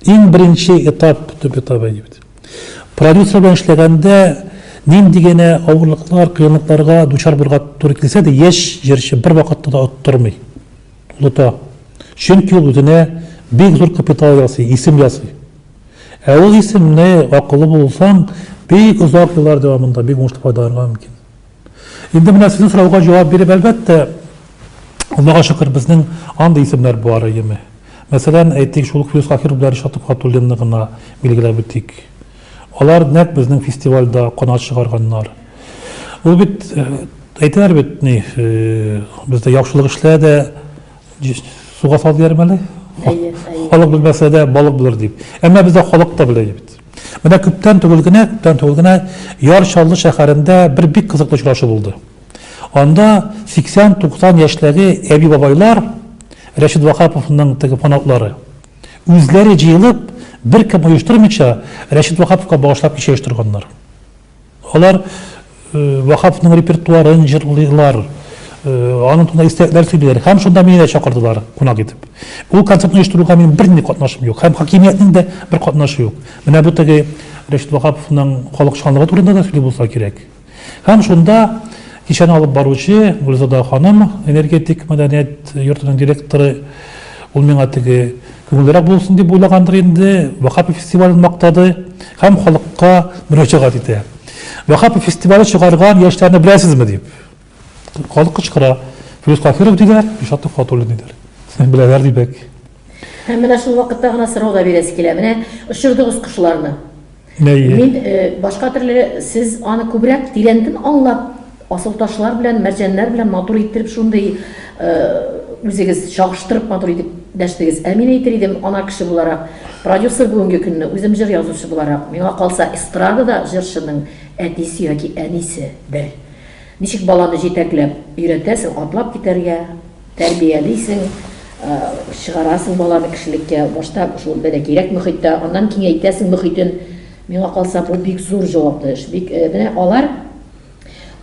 Иң беренче этап, төп этап әйди бит. Продюсер белән эшләгәндә нинди генә авырлыклар, кыенлыкларга дучар булырга туры килсә дә, яшь җырчы бер вакытта да оттырмый. Оныта. Чөнки ул үзенә бик зур капитал ясый, исем ясый. Ә ул исемне, акыллы булсаң, бик озак еллар дәвамында бик уңышлы файдаланырга мөмкин. Инде менә сезнең сорауга җавап биреп, әлбәттә, Аллага шөкер, безнең андый исемнәр бар, әйеме? Мәсәлән, әйтик, шул ук Юсаф Хиров белән Ришат Төхвәтуллинны гына билгеләп үтик. Алар нәкъ безнең фестивальдә канат чыгарганнар. Ул бит әйтәләр бит ни бездә яхшылык эшлә дә суга сал дияр мәле халык белмәсә дә балык булыр дип әмма бездә халык та белә бит менә күптән түгел генә күптән түгел генә яр чаллы шәһәрендә бер бик кызыклы очрашу булды анда 80-90 яшьләге әби бабайлар рәшид вахаповның теге фанатлары үзләре җыелып беркем оештырмыйча рәшид вахаповка багышлап кичә оештырганнар Алар Ваһапның репертуарын җырлыйлар, аның турында истәлекләр сөйлиләр һәм шунда мине дә чакырдылар кунак итеп. Ул концертны оештыруга минем бернинди катнашым юк һәм хакимиятнең дә бер катнашы юк. Менә бу теге Рәшит Ваһаповның халыкчанлыгы турында да сөйли булса кирәк. Һәм шунда кичәне алып баручы Гөлзада ханым, энергетик мәдәният йортының директоры, ул миңа теге Күңеллерәк булсын дип уйлагандыр инде, Вакапи фестивален мактады һәм халыкка мөрәҗәгать итә. Вакапи фестивале чыгарган яшьләрне беләсезме? дип, халык кычкыра. Филүс Каһиров диләр, Илшат Төхфәтуллин диләр. Беләләр дибек. Һәм менә шул вакытта гына сорау да бирәсе килә, менә очырдыгыз кошларны. Нәйе. Мин башка төрле сез аны күбрәк тирәнтен аңлап асылташлар белән мәрҗәннәр белән матур иттереп шундый үзегез чагыштырып матур итеп дәштегез. Ә мин әйтер идем ана кеше буларак, продюсер бүгенге көнне үзем җыр язучы буларак, миңа калса эстрадада җырчының әтисе яки әнисе бер. Ничек баланы җитәкләп өйрәтәсең атлап китәргә, Тәрбиялисең, чыгарасың баланы кешелеккә. Башта шул бәлә кирәк мөхиттә, аннан киңәйтәсең мөхитен. Миңа калса, бу бик зур җаваплы эш. Бик, менә алар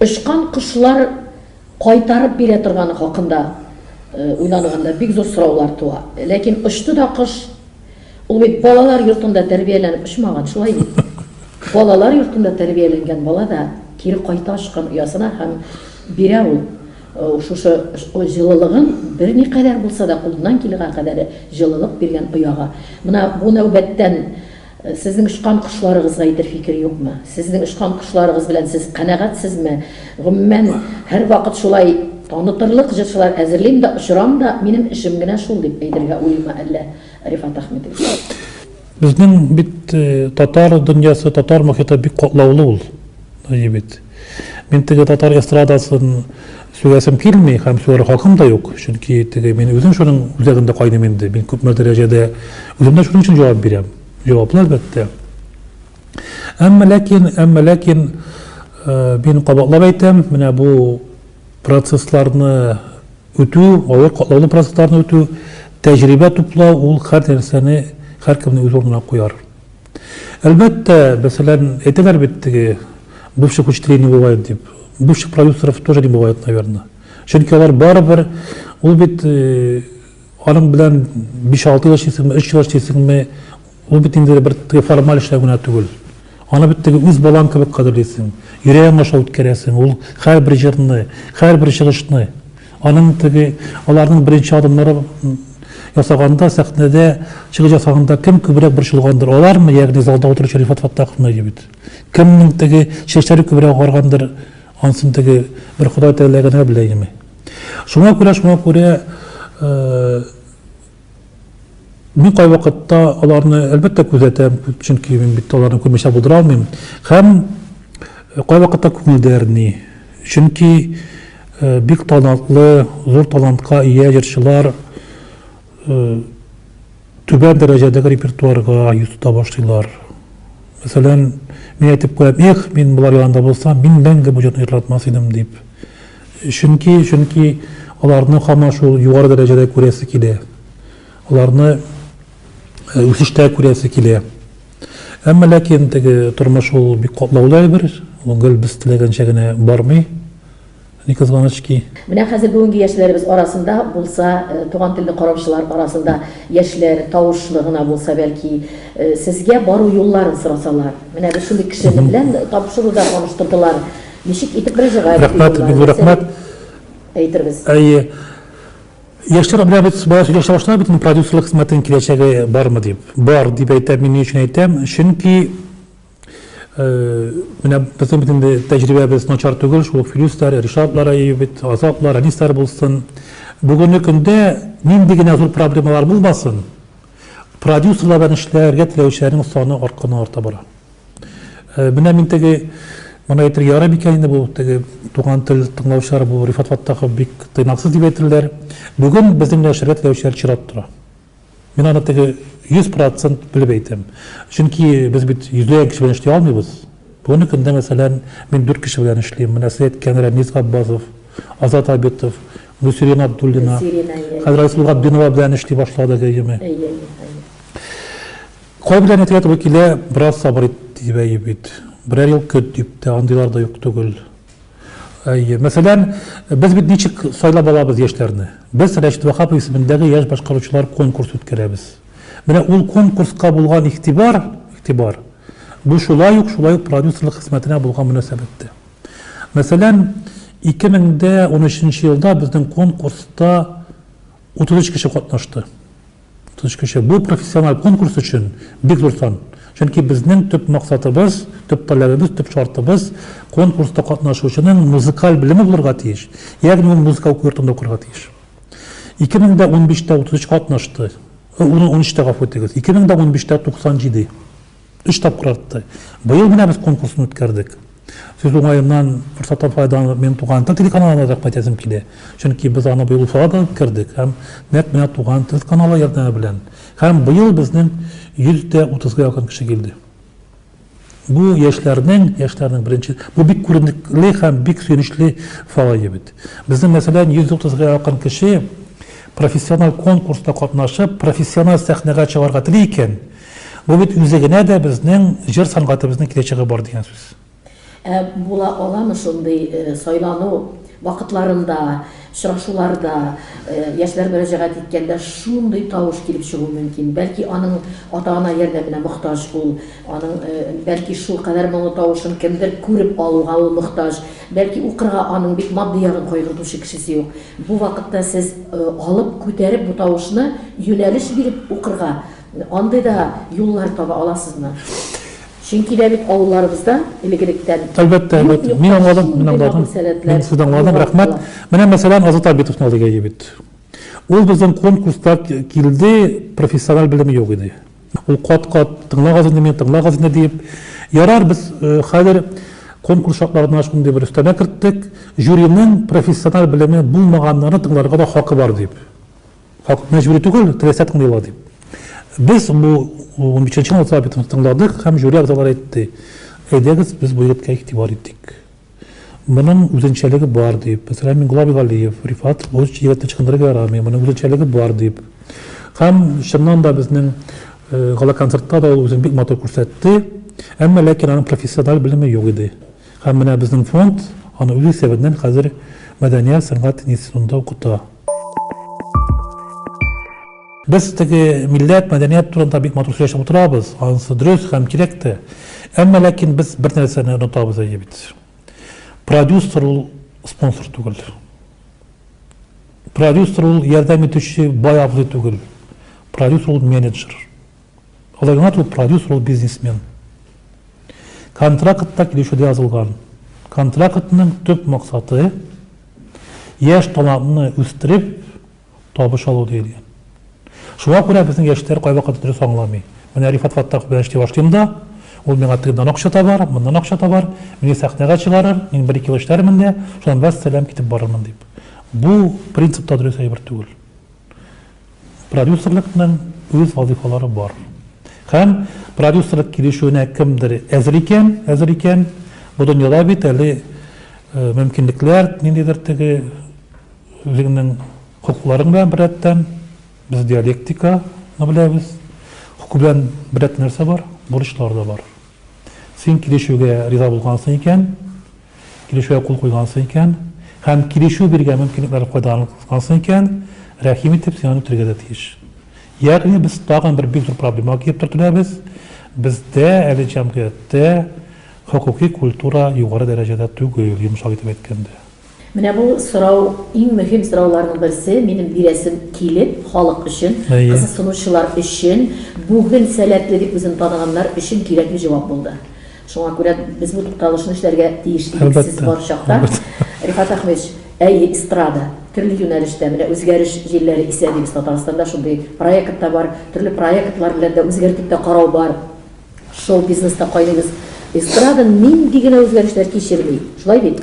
очкан кошлар кайтарып бирә торганы хакында уйланганда бик зур сораулар туа. Ләкин очты да кош. Ул бит балалар йортында тәрбияләнеп очмаган, шулай бит? Балалар йортында тәрбияләнгән бала да кире кайта очкан оясына һәм бирә ул. Ул шушы җылылыгын берникадәр булса да кулыннан килгән кадәре җылылык биргән ояга. Менә бу нәүбәттән сезнең очкан кошларыгызга әйтер фикер юкмы? Сезнең очкан кошларыгыз белән сез канәгатьсезме? Гомумән, һәрвакыт шулай танытырлык җырчылар әзерлим дә, очырам да, минем эшем генә шул, дип әйтергә уйлыймы әллә, Рифат Әхмәтович? Безнең бит татар дөньясы, татар мохиты бик катлаулы ул, Җебет. Мин теге татар эстрадасын сүгәсем килми һәм сүгәр хакым да юк, чөнки теге мин үзем шуның үзәгендә кайным инде. Мин күпме дәрәҗәдә үземдә шуның өчен җавап бирәм. Җаваплы әлбәттә. Әмма ләкин, әмма ләкин э, мин кабатлап әйтәм, менә бу процессларны үтү, авыр катлаулы процессларны үтү, тәҗрибә туплау ул һәр нәрсәне һәркемне үз урынына куяр. Әлбәттә, мәсәлән, әйтәләр бит теге бывших учителей не бывает дип, бывших продюсеров тоже не бывает, наверное. Чөнки алар барыбер, ул бит э, аның белән 5-6 ел эшлисеңме, 3 ел эшлисеңме, ул бит инде бер теге формаль эшләү генә түгел. Аны бит теге үз балаң кебек кадерлисең, йөрәгең аша үткәрәсең, ул һәрбер җырны, һәрбер чыгышны. Аның теге, аларның беренче адымнары ясаганда, сәхнәдә чыгыш ясаганда кем күбрәк борчылгандыр? Алармы, ягъни залда утыручы Рифат Фаттаховны егет? Кемнең теге чәчләре күбрәк агаргандыр? Ансын теге бер Ходай Тәгалә генә белә инеме? Шуңа күрә, шуңа күрә, э, Мин кайвакытта аларны, әлбәттә, күзәтәм, чөнки мин бит аларны күрмичә булдыра алмыйм. Һәм э, кайвакытта күңелдә әрни. Чөнки э, бик талантлы, зур талантка ия җырчылар э, түбән дәрәҗәдәге репертуарга йөз тота башлыйлар. Мәсәлән, мин әйтеп куям, эх, мин болар янында булсам, мин мәңге бу җырны җырладмас идем дип. Чөнки, чөнки аларны һаман шул югары дәрәҗәдә күрәсе килә. Аларны үсештә күрәсе килә. Әмма ләкин теге тормыш ул бик катлаулы әйбер, ул гел без теләгәнчә генә бармый. Ни кызганыч ки. Менә хәзер бүгенге яшьләребез арасында булса, туган телне караучылар арасында яшьләр тавышлы гына булса, бәлки, сезгә бару юлларын сорасалар. Менә без шундый кешене белән тапшыруда таныштырдылар. Ничек итеп проживать Рәхмәт, бик зур рәхмәт. Әйтербез. Әйе. Яшьләр белән бит бала сөйләшә башлар бит продюсерлык хезмәтенең киләчәге бармы дип. Бар дип әйтәм, мин ни өчен әйтәм? Чөнки э, менә безнең бит инде тәҗрибәбез начар түгел, шул ук Филюсләр, Ришатлар әйе бит, Азатлар, Әнисләр булсын. Бүгенге көндә нинди генә зур проблемалар булмасын, продюсерлар белән эшләргә теләүчеләрнең саны артканы арта бара. Менә мин теге, моны әйтергә ярый микән инде бу, теге туган тел тыңлаучылар бу Рифат Фаттахов бик тыйнаксыз дип әйтерләр. Бүген безнең нәшергә теләүчеләр чират тора. Мин аны теге 100% белеп әйтәм. Чөнки без бит йөзләгән кеше белән эшли алмыйбыз. Бүгенге көндә, мәсәлән, мин дүрт кеше белән эшлим. Менә сез әйткән Рәмис Габбазов, Азат Абитов, Гөлсирина Абдуллина. Хәзер Айсылу Габдинова белән эшли башладык, әйеме? Әйе, әйе. Кай белән әйтергә туры килә, бераз сабыр ит, дип әйе бит. Берәр ел көт, дип тә, андыйлар да юк түгел. Әйе. Мәсәлән, без бит ничек сайлап алабыз яшьләрне? Без Рәшит Ваһапов исемендәге яшь башкаручылар конкурсы үткәрәбез. Менә ул конкурска булган игътибар, игътибар, бу шулай ук, шулай ук продюсерлык хезмәтенә булган мөнәсәбәт тә. Мәсәлән, 2013 елда безнең конкурста 33 кеше катнашты. Тыныч кеше, бу профессиональ конкурс өчен бик зур сан. Чөнки безнең төп максатыбыз, төп таләбебез, төп шартыбыз, конкурста катнашучының музыкаль белеме булырга тиеш, ягъни ул музыка уку йортында укырга тиеш. 2015 тә 33 катнашты, унөчтә, гафу итегез, 2015 тә 97. Өч тапкыр артты. Быел менә без конкурсын үткәрдек. Сүз уңаеннан, форсаттан файдаланып, минем Туган тел телеканалына рәхмәт әйтәсем килә. Чөнки без аны быел Уфада да үткәрдек һәм нәкъ менә Туган тел каналы ярдәме белән. Һәм быел безнең 130 га якын кеше килде. Бу яшьләрнең, яшьләрнең беренче, бу бик күренекле һәм бик сөенечле фалаи бит. Безнең, мәсәлән, 130 га якын кеше профессиональ конкурста катнашып, профессиональ сәхнәгә чыгарга тели икән, Бу бит үзе генә дә безнең җыр сәнгатебезнең киләчәге бар дигән сүз. Ә була аламы шундый сайлану вакытларында, очрашуларда, яшьләр мөрәҗәгать иткәндә шундый тавыш килеп чыгу мөмкин? Бәлки аның ата-ана ярдәменә мохтаҗ ул, аның бәлки шулкадәр моңлы тавышын кемдер күреп алуга ул мохтаҗ, бәлки укырга аның бит матди ягын кайгыртучы кешесе юк. Бу вакытта сез алып, күтәреп бу тавышны юнәлеш биреп укырга, Андый да юллар таба аласызмы? Чөнки дә бит авылларыбызда элек-электән Әлбәттә, әлбәттә. Мин аңладым, мин аңладым. Мин сезне аңладым, рәхмәт. Менә мәсәлән Азат Абитовны алыйк әйе бит. Ул безнең конкурста килде, профессиональ белеме юк иде. Ул кат-кат тыңлагыз инде мине, тыңлагыз инде диеп. Ярар, без э, хәзер конкурс шартларына шундый бер өстәмә керттек, жюриның профессиональ белеме булмаганнарны тыңларга да хакы бар дип. Хак, мәҗбүри түгел, теләсә тыңлыйлар дип. Без бу унбишенче минутта битен тыңладык һәм жюри әгъзалары әйтте, әйдәгез, без бу егеткә игътибар итик. Моның үзенчәлеге бар дип, мәсәлән, Миңгула Бигалиев, Рифат бу егетне ычкындырырга ярамый, моның үзенчәлеге бар дип. Һәм чыннан да безнең э, гала-концертта да ул үзен бик матур күрсәтте, әмма ләкин аның профессиональ белеме юк иде. Һәм менә безнең фонд аны үз исәбеннән хәзер мәдәният, сәнгать институтында укыта. Без теге милләт, мәдәният турында бик матур сөйләшеп утырабыз, анысы дөрес һәм кирәк тә. Әмма ләкин без бер нәрсәне онытабыз әйе бит. Продюсер ул спонсор түгел. Продюсер ул ярдәм итүче бай абзый түгел. Продюсер ул менеджер. Алай гына түгел, продюсер ул бизнесмен. Контракт та килешүдә язылган. Контрактның төп максаты, яшь талантны үстереп, табыш алу диелгән. Шуңа күрә безнең яшьләр кайвакыт дөрес аңламый. Менә Рифат Фаттахов белән эшли башлыйм да, ул миңа тегеннән акча табар, моннан акча табар, мине сәхнәгә чыгарыр, мин бер-ике ел эшләрмен дә, шуннан вәссәлам, китеп барырмын, дип. Бу принцип та дөрес әйбер түгел. Продюсерлыкның үз вазыйфалары бар. Һәм продюсерлык килешүенә кемдер әзер икән, әзер икән, бу дөньяда бит әле э, мөмкинлекләр, ниндидер теге үзеңнең хокукларың белән беррәттән, без диалектиканы беләбез, хокук белән беррәттән нәрсә бар, бурычлар да бар. Син килешүгә риза булгансың икән, килешүгә кул куйгансың икән һәм килешү биргән мөмкинлекләрне файдалангансың икән, рәхим итеп, син аны үтәргә дә тиеш. Ягъни без тагын бер бик зур проблемага килеп төртеләбез, бездә әле җәмгыятьтә хокукый культура югары дәрәҗәдә түгел, йомшак итеп әйткәндә. Менә бу сорау, иң мөһим сорауларның берсе, минем бирәсем килеп, халык өчен, кызыксынучылар өчен, бүген сәләтле дип үзен таныганнар өчен кирәкле җавап булды. Шуңа күрә без бу тукталышны эшләргә тиеш идек сез бар чакта. Рифат Әхмәтович, әйе, эстрада, төрле юнәлештә, менә үзгәреш җилләре исә дибез Татарстанда, шундый проект та бар, төрле проектлар белән дә үзгәртеп тә карау бар. Шоу бизнеста кайдыгыз? Эстрада нинди генә үзгәрешләр кичерми, шулай бит?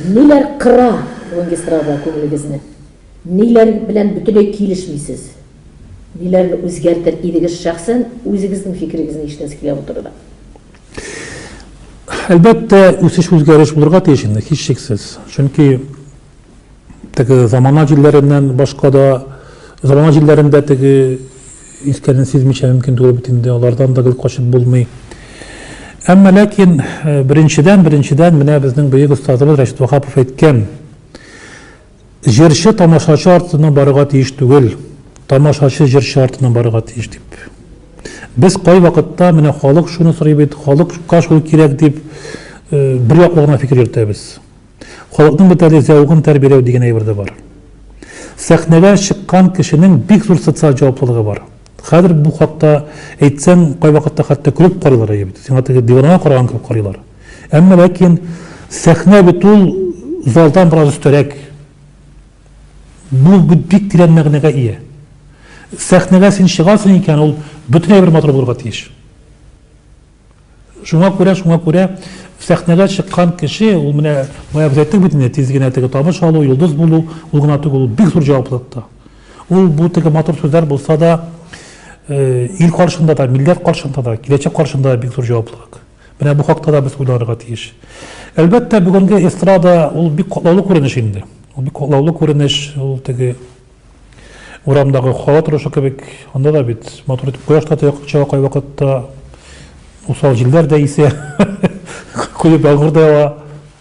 Ниләр кыра бүгенге эстрада күңелегезне? Ниләр белән бөтенләй килешмисез? Ниләрне үзгәртер идегез шәхсән, үзегезнең фикерегезне ишетәсе килә бу турыда? Әлбәттә, үсеш-үзгәреш булырга тиеш инде, һичшиксез. Чөнки теге замана җилләреннән башка да, замана җилләрендә теге искәнен сизмичә мөмкин түгел бит инде, алардан да гел качып булмый. Әмма ләкин беренчедән, беренчедән менә безнең бөек остазыбыз Рәшит Ваһапов әйткән, Җырчы тамашачы артыннан барырга тиеш түгел, тамашачы җырчы артыннан барырга тиеш, дип. Без кайвакытта, менә халык шуны сорый бит, халыкка шул кирәк, дип, бер яклы гына фикер йөртәбез. Халыкның бит әле зәвыгын тәрбияләү дигән әйбер дә бар. Сәхнәгә чыккан кешенең бик зур социаль җаваплылыгы бар. Хәзер бу хакта әйтсәң, кайвакытта хәтта көлеп карыйлар, әйе бит, сиңа теге диванага караган кебек карыйлар. Әмма ләкин сәхнә бит ул залдан бераз өстәрәк. Бу бик тирән мәгънәгә ия. Сәхнәгә син чыгасың икән, ул бөтенләй бер матур булырга тиеш. Шуңа күрә, шуңа күрә сәхнәгә чыккан кеше, ул менә бая без әйттек бит инде, тиз генә теге табыш алу, йолдыз булу, ул гына түгел, ул бик зур җаваплылык та. Ул бу теге матур сүзләр булса да, э, ил каршында да, милләт каршында да, киләчәк каршында да бик зур җаваплылык. Менә бу хакта да без уйларга тиеш. Әлбәттә, бүгенге эстрада ул бик катлаулы күренеш инде. Ул бик катлаулы күренеш, ул теге Урамдагы һава торышы кебек, анда да бит матур итеп кояш та чыга кайвакытта, усал җилләр дә исә, коеп ялгыр да ява.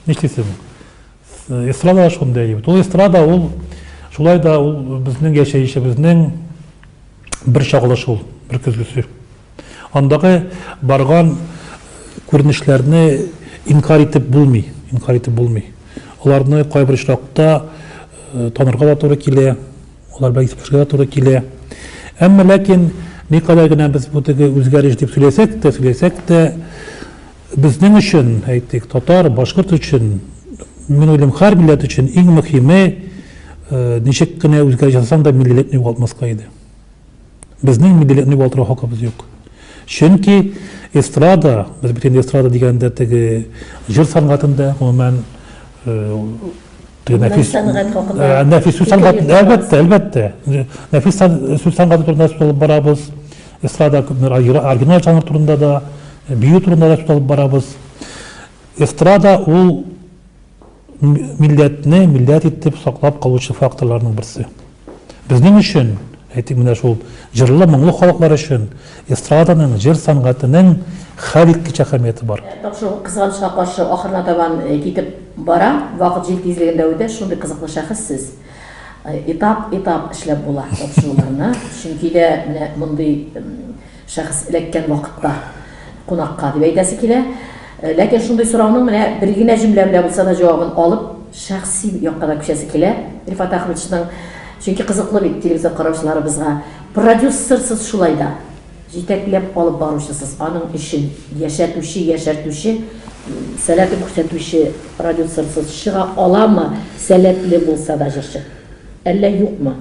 Нишлисең? Эстрада да шундый әйбер. Ул эстрада ул шулай да ул безнең яшәешебезнең бер чагылышы ул, бер көзгесе. Андагы барган күренешләрне инкарь итеп булмый, инкарь итеп булмый. Аларны кайбер очракта танырга да туры килә, алар белән исәпләшергә дә туры килә. Әмма ләкин никадәр генә без бу теге үзгәреш дип сөйләсәк тә, сөйләсәк тә, безнең өчен, әйтик, татар, башкорт өчен, мин уйлыйм, һәр милләт өчен иң мөһиме, ничек кенә үзгәреш ясасаң да миллилек югалтмаска иде. Безнең миллилетный валтырау хакыбыз юк. Чөнки эстрада, без бит инде эстрада дигәндә теге җыр сәнгатендә, гомумән, нәфис сәнгать хакында. Нәфис сүз сәнгате, әлбәттә, әлбәттә. Нәфис сүз сәнгате турында сүз алып барабыз. Эстрада оригиналь жанр турында да, бию турында да сүз алып барабыз. Эстрада ул милләтне милләт итеп саклап калучы факторларның берсе. Безнең өчен, әйтик, менә шул җырлы, моңлы халыклар өчен эстраданың, җыр сәнгатенең хәлиткеч әһәмияте бар. Тапшыру кызганычка каршы ахырына табан китеп бара, вакыт җил тизлегендә үтә, шундый кызыклы шәхес сез. Этап-этап эшләп була тапшыруларны, чөнки дә менә мондый Шәхес эләккән вакытта кунакка дип әйтәсе килә. Ләкин шундый сорауның менә бер генә җөмлә белән булса да җавабын алып, шәхси якка да күчәсе килә Рифат Әхмәтшның. Чөнки кызыклы бит телевизор караучыларыбызга. Продюссерсыз шулай да. Җитәкләп алып баручысыз, аның эшен яшәтүче, яшәртүче, сәләтен күрсәтүче продюссерсыз чыга аламы, сәләтле булса да җырчы? Әллә юкмы?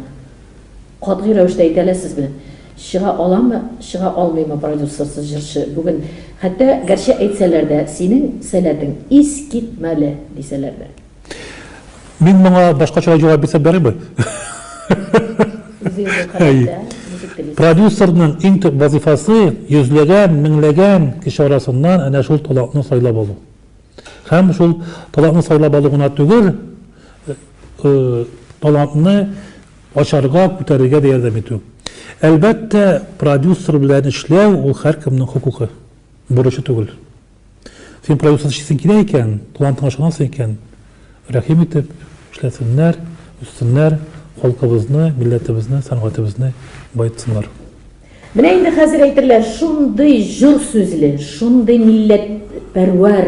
Катгый рәвештә әйтә аласызмы, чыга аламы, чыга алмыймы продюсерсыз җырчы бүген? Хәтта гәрчә әйтсәләр дә, синең сәләтең искитмәле, дисәләр дә. Мин моңа башкачарак җавап бирсәм ярыймы? Үзегезгә карап та, ничек телисез. Продюсерның иң төп вазыйфасы, йөзләгән, меңләгән кеше арасыннан әнә шул талантны сайлап алу. Һәм шул талантны сайлап алу гына түгел, талантны Ачарга, күтәрергә дә ярдәм итү. Әлбәттә, продюсер белән эшләү, ул һәркемнең хокукы, бурычы түгел. Син продюсер эшлисең килә икән, талантыңа ышанасың икән, рәхим итеп, эшләсеннәр, үссеннәр, халкыбызны, милләтебезне, сәнгатебезне баетсыннар. Менә инде хәзер әйтерләр, шундый җор сүзле, шундый милләтпәрвәр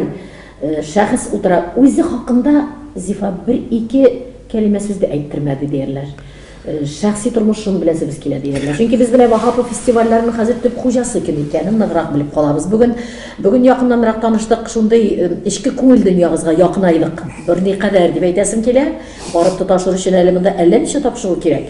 шәхес утыра, үзе хакында Зифа бер-ике кәлимә сүз дә әйттермәде диярләр. Шәхси тормышым белән сөбез килә диярләр. Чөнки без менә Ваһапов фестивальләренең хәзер төп хуҗасы кем икәнен ныграк белеп калабыз. Бүген бүген якыннанрак таныштык, шундый эчке күңел дөньягызга якынайлык. Берникадәр дип әйтәсем килә. Барып тоташыр өчен әле монда әллә ничә тапшыру кирәк.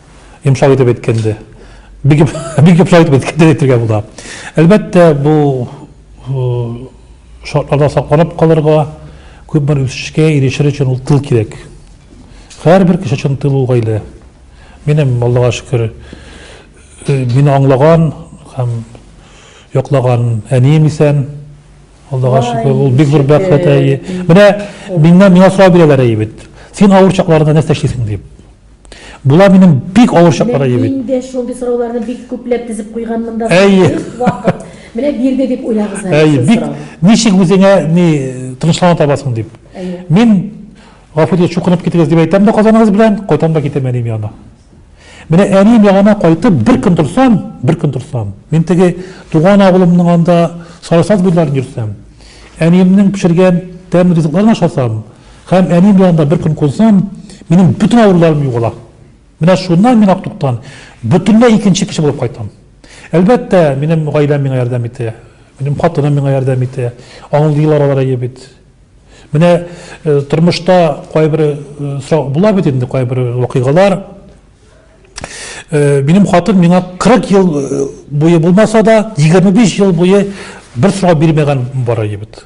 Йомшак итеп әйткәндә. Бик бик йомшак итеп әйткәндә әйтергә була. Әлбәттә, бу шартларда сакланып калырга, күп бер үсешкә ирешер өчен ул тыл кирәк. Һәрбер кеше өчен тыл ул гаилә. Минем Аллага шөкер, э, мине аңлаган һәм яклаган әнием исән. Аллага шөкер, ул бик зур бәхет әйе. Менә миннән миңа сорау бирәләр әйе бит. Син авыр чакларында нәрсә эшлисең дип. Була минем бик авыр чаклар әйе бит. Инде шундый сорауларны бик күпләп тезеп куйган монда. Әйе. Вакыт. Менә бирде дип уйлагыз әле. Әйе, бик. Ничек үзеңә ни тынычлана табасың дип. Мин гафу итегез, чукынып китегез дип әйтәм дә казаныгыз белән, кайтам да китәм әнием янына. Менә әнием янына кайтып, бер көн торсам, бер көн торсам, мин теге туган авылымның анда Сарасаз буйларын йөрсәм, әниемнең пешергән тәмле ризыкларын ашасам, Һәм әни белән дә бер көн кунсам, минем бөтен авыруларым югала. Менә шуннан мин Актуктан бөтенләй икенче кеше булып кайтам. Әлбәттә, минем гаиләм миңа ярдәм итә. Минем хатыным миңа ярдәм итә. Аңлыйлар алар әйе бит. Менә э, тормышта кайбер э, сорау була бит инде кайбер вакыйгалар. Э, минем хатын миңа 40 ел э, буе булмаса да, 25 ел буе бер сорау бирмәгән бара ебет.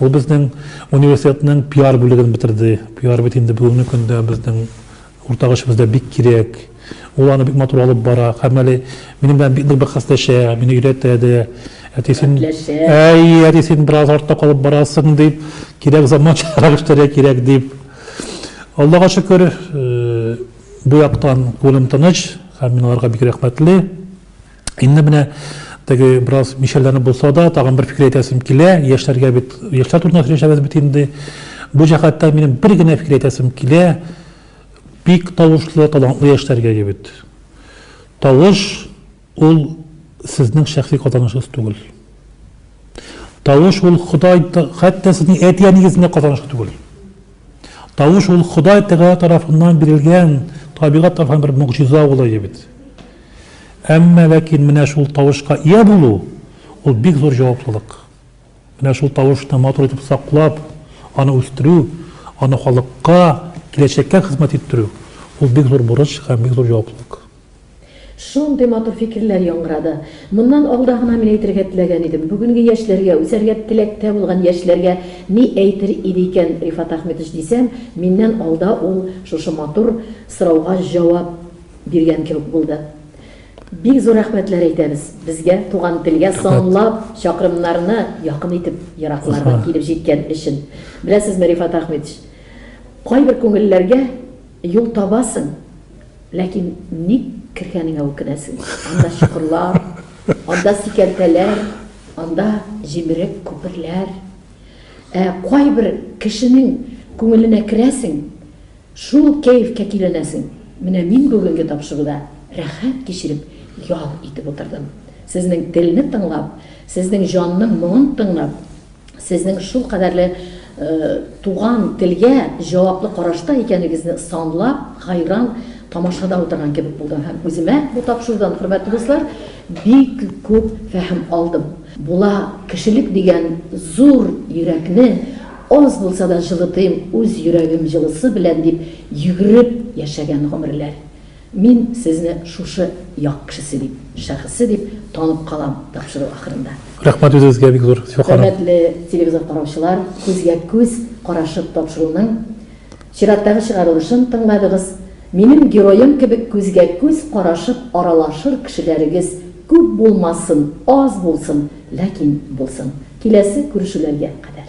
Ул безнең университетның пиар бүлеген бетерде. Пиар бит инде бүгенге көндә безнең уртак эшебездә бик кирәк. Ул аны бик матур алып бара. Һәм әле минем белән бик нык бәхәсләшә, мине өйрәтә дә. Әти, син, әй, әти, син бераз артта калып барасың, дип, кирәк заманчарак эшләргә кирәк, дип. Аллага шөкер, бу яктан күңелем тыныч һәм мин аларга бик рәхмәтле. Инде менә теге бераз мишәрләнеп булса да, тагын бер фикер әйтәсем килә. Яшьләргә бит, яшьләр турында сөйләшәбез бит инде. Бу җәһәттән минем бер генә фикер әйтәсем килә. Бик тавышлы, талантлы яшьләргә егет. Тавыш ул сезнең шәхси казанышыгыз түгел. Тавыш ул Ходай, хәтта сезнең әти-әнигезнең дә казанышы түгел. Тавыш ул Ходай Тәгалә тарафыннан бирелгән табигать тарафыннан бер могҗиза улые бит. Әмма ләкин менә шул тавышка ия булу, ул бик зур җаваплылык. Менә шул тавышны матур итеп саклап, аны үстерү, аны халыкка, киләчәккә хезмәт иттерү, ул бик зур бурыч һәм бик зур җаваплылык. Шундый матур фикерләр яңгырады. Моннан алда гына мин әйтергә теләгән идем. Бүгенге яшьләргә, үсәргә теләктә булган яшьләргә ни әйтер иде икән Рифат Әхметович дисәм, миннән алда ул шушы матур сорауга җавап биргән кебек булды. Бик зур рәхмәтләр әйтәбез. Безгә, туган телгә санлап чакрымнарны якын итеп ераклардан килеп җиткән өчен. Беләсезме, Рифат Әхметович, кайбер күңелләргә юл табасың. Ләкин ник кергәнеңә үкенәсең. Анда чокырлар, анда сикәлтәләр, анда җимерек күперләр. Ә кайбер кешенең күңеленә керәсең, шул кәефкә киләнәсең. Менә мин бүгенге тапшыруда рәхәт кичереп ял итеп утырдым. Сезнең телне тыңлап, сезнең җанның моңын тыңлап. сезнең шулкадәрле туган телгә җаваплы карашта икәнегезне санлап хәйран тамашада утырган кебек булдым һәм үземә бу тапшырудан, хөрмәтле дуслар, бик күп фәһем алдым. Була, кешелек дигән зур йөрәкне аз булса да җылытыйм үз йөрәгем җылысы белән дип йөгереп яшәгән гомерләр. Мин сезне шушы як кешесе дип, шәхесе дип танып калам тапшыру ахырында. Рәхмәт үзегезгә бик зур, Сюханов. Хөрмәтле телевизор караучылар, күзгә күз карашып тапшыруның чираттагы чыгарылышын тыңладыгыз. Минем героем кебек күзгә күз карашып аралашыр кешеләрегез күп булмасын, аз булсын, ләкин булсын. Киләсе күрешүләргә кадәр.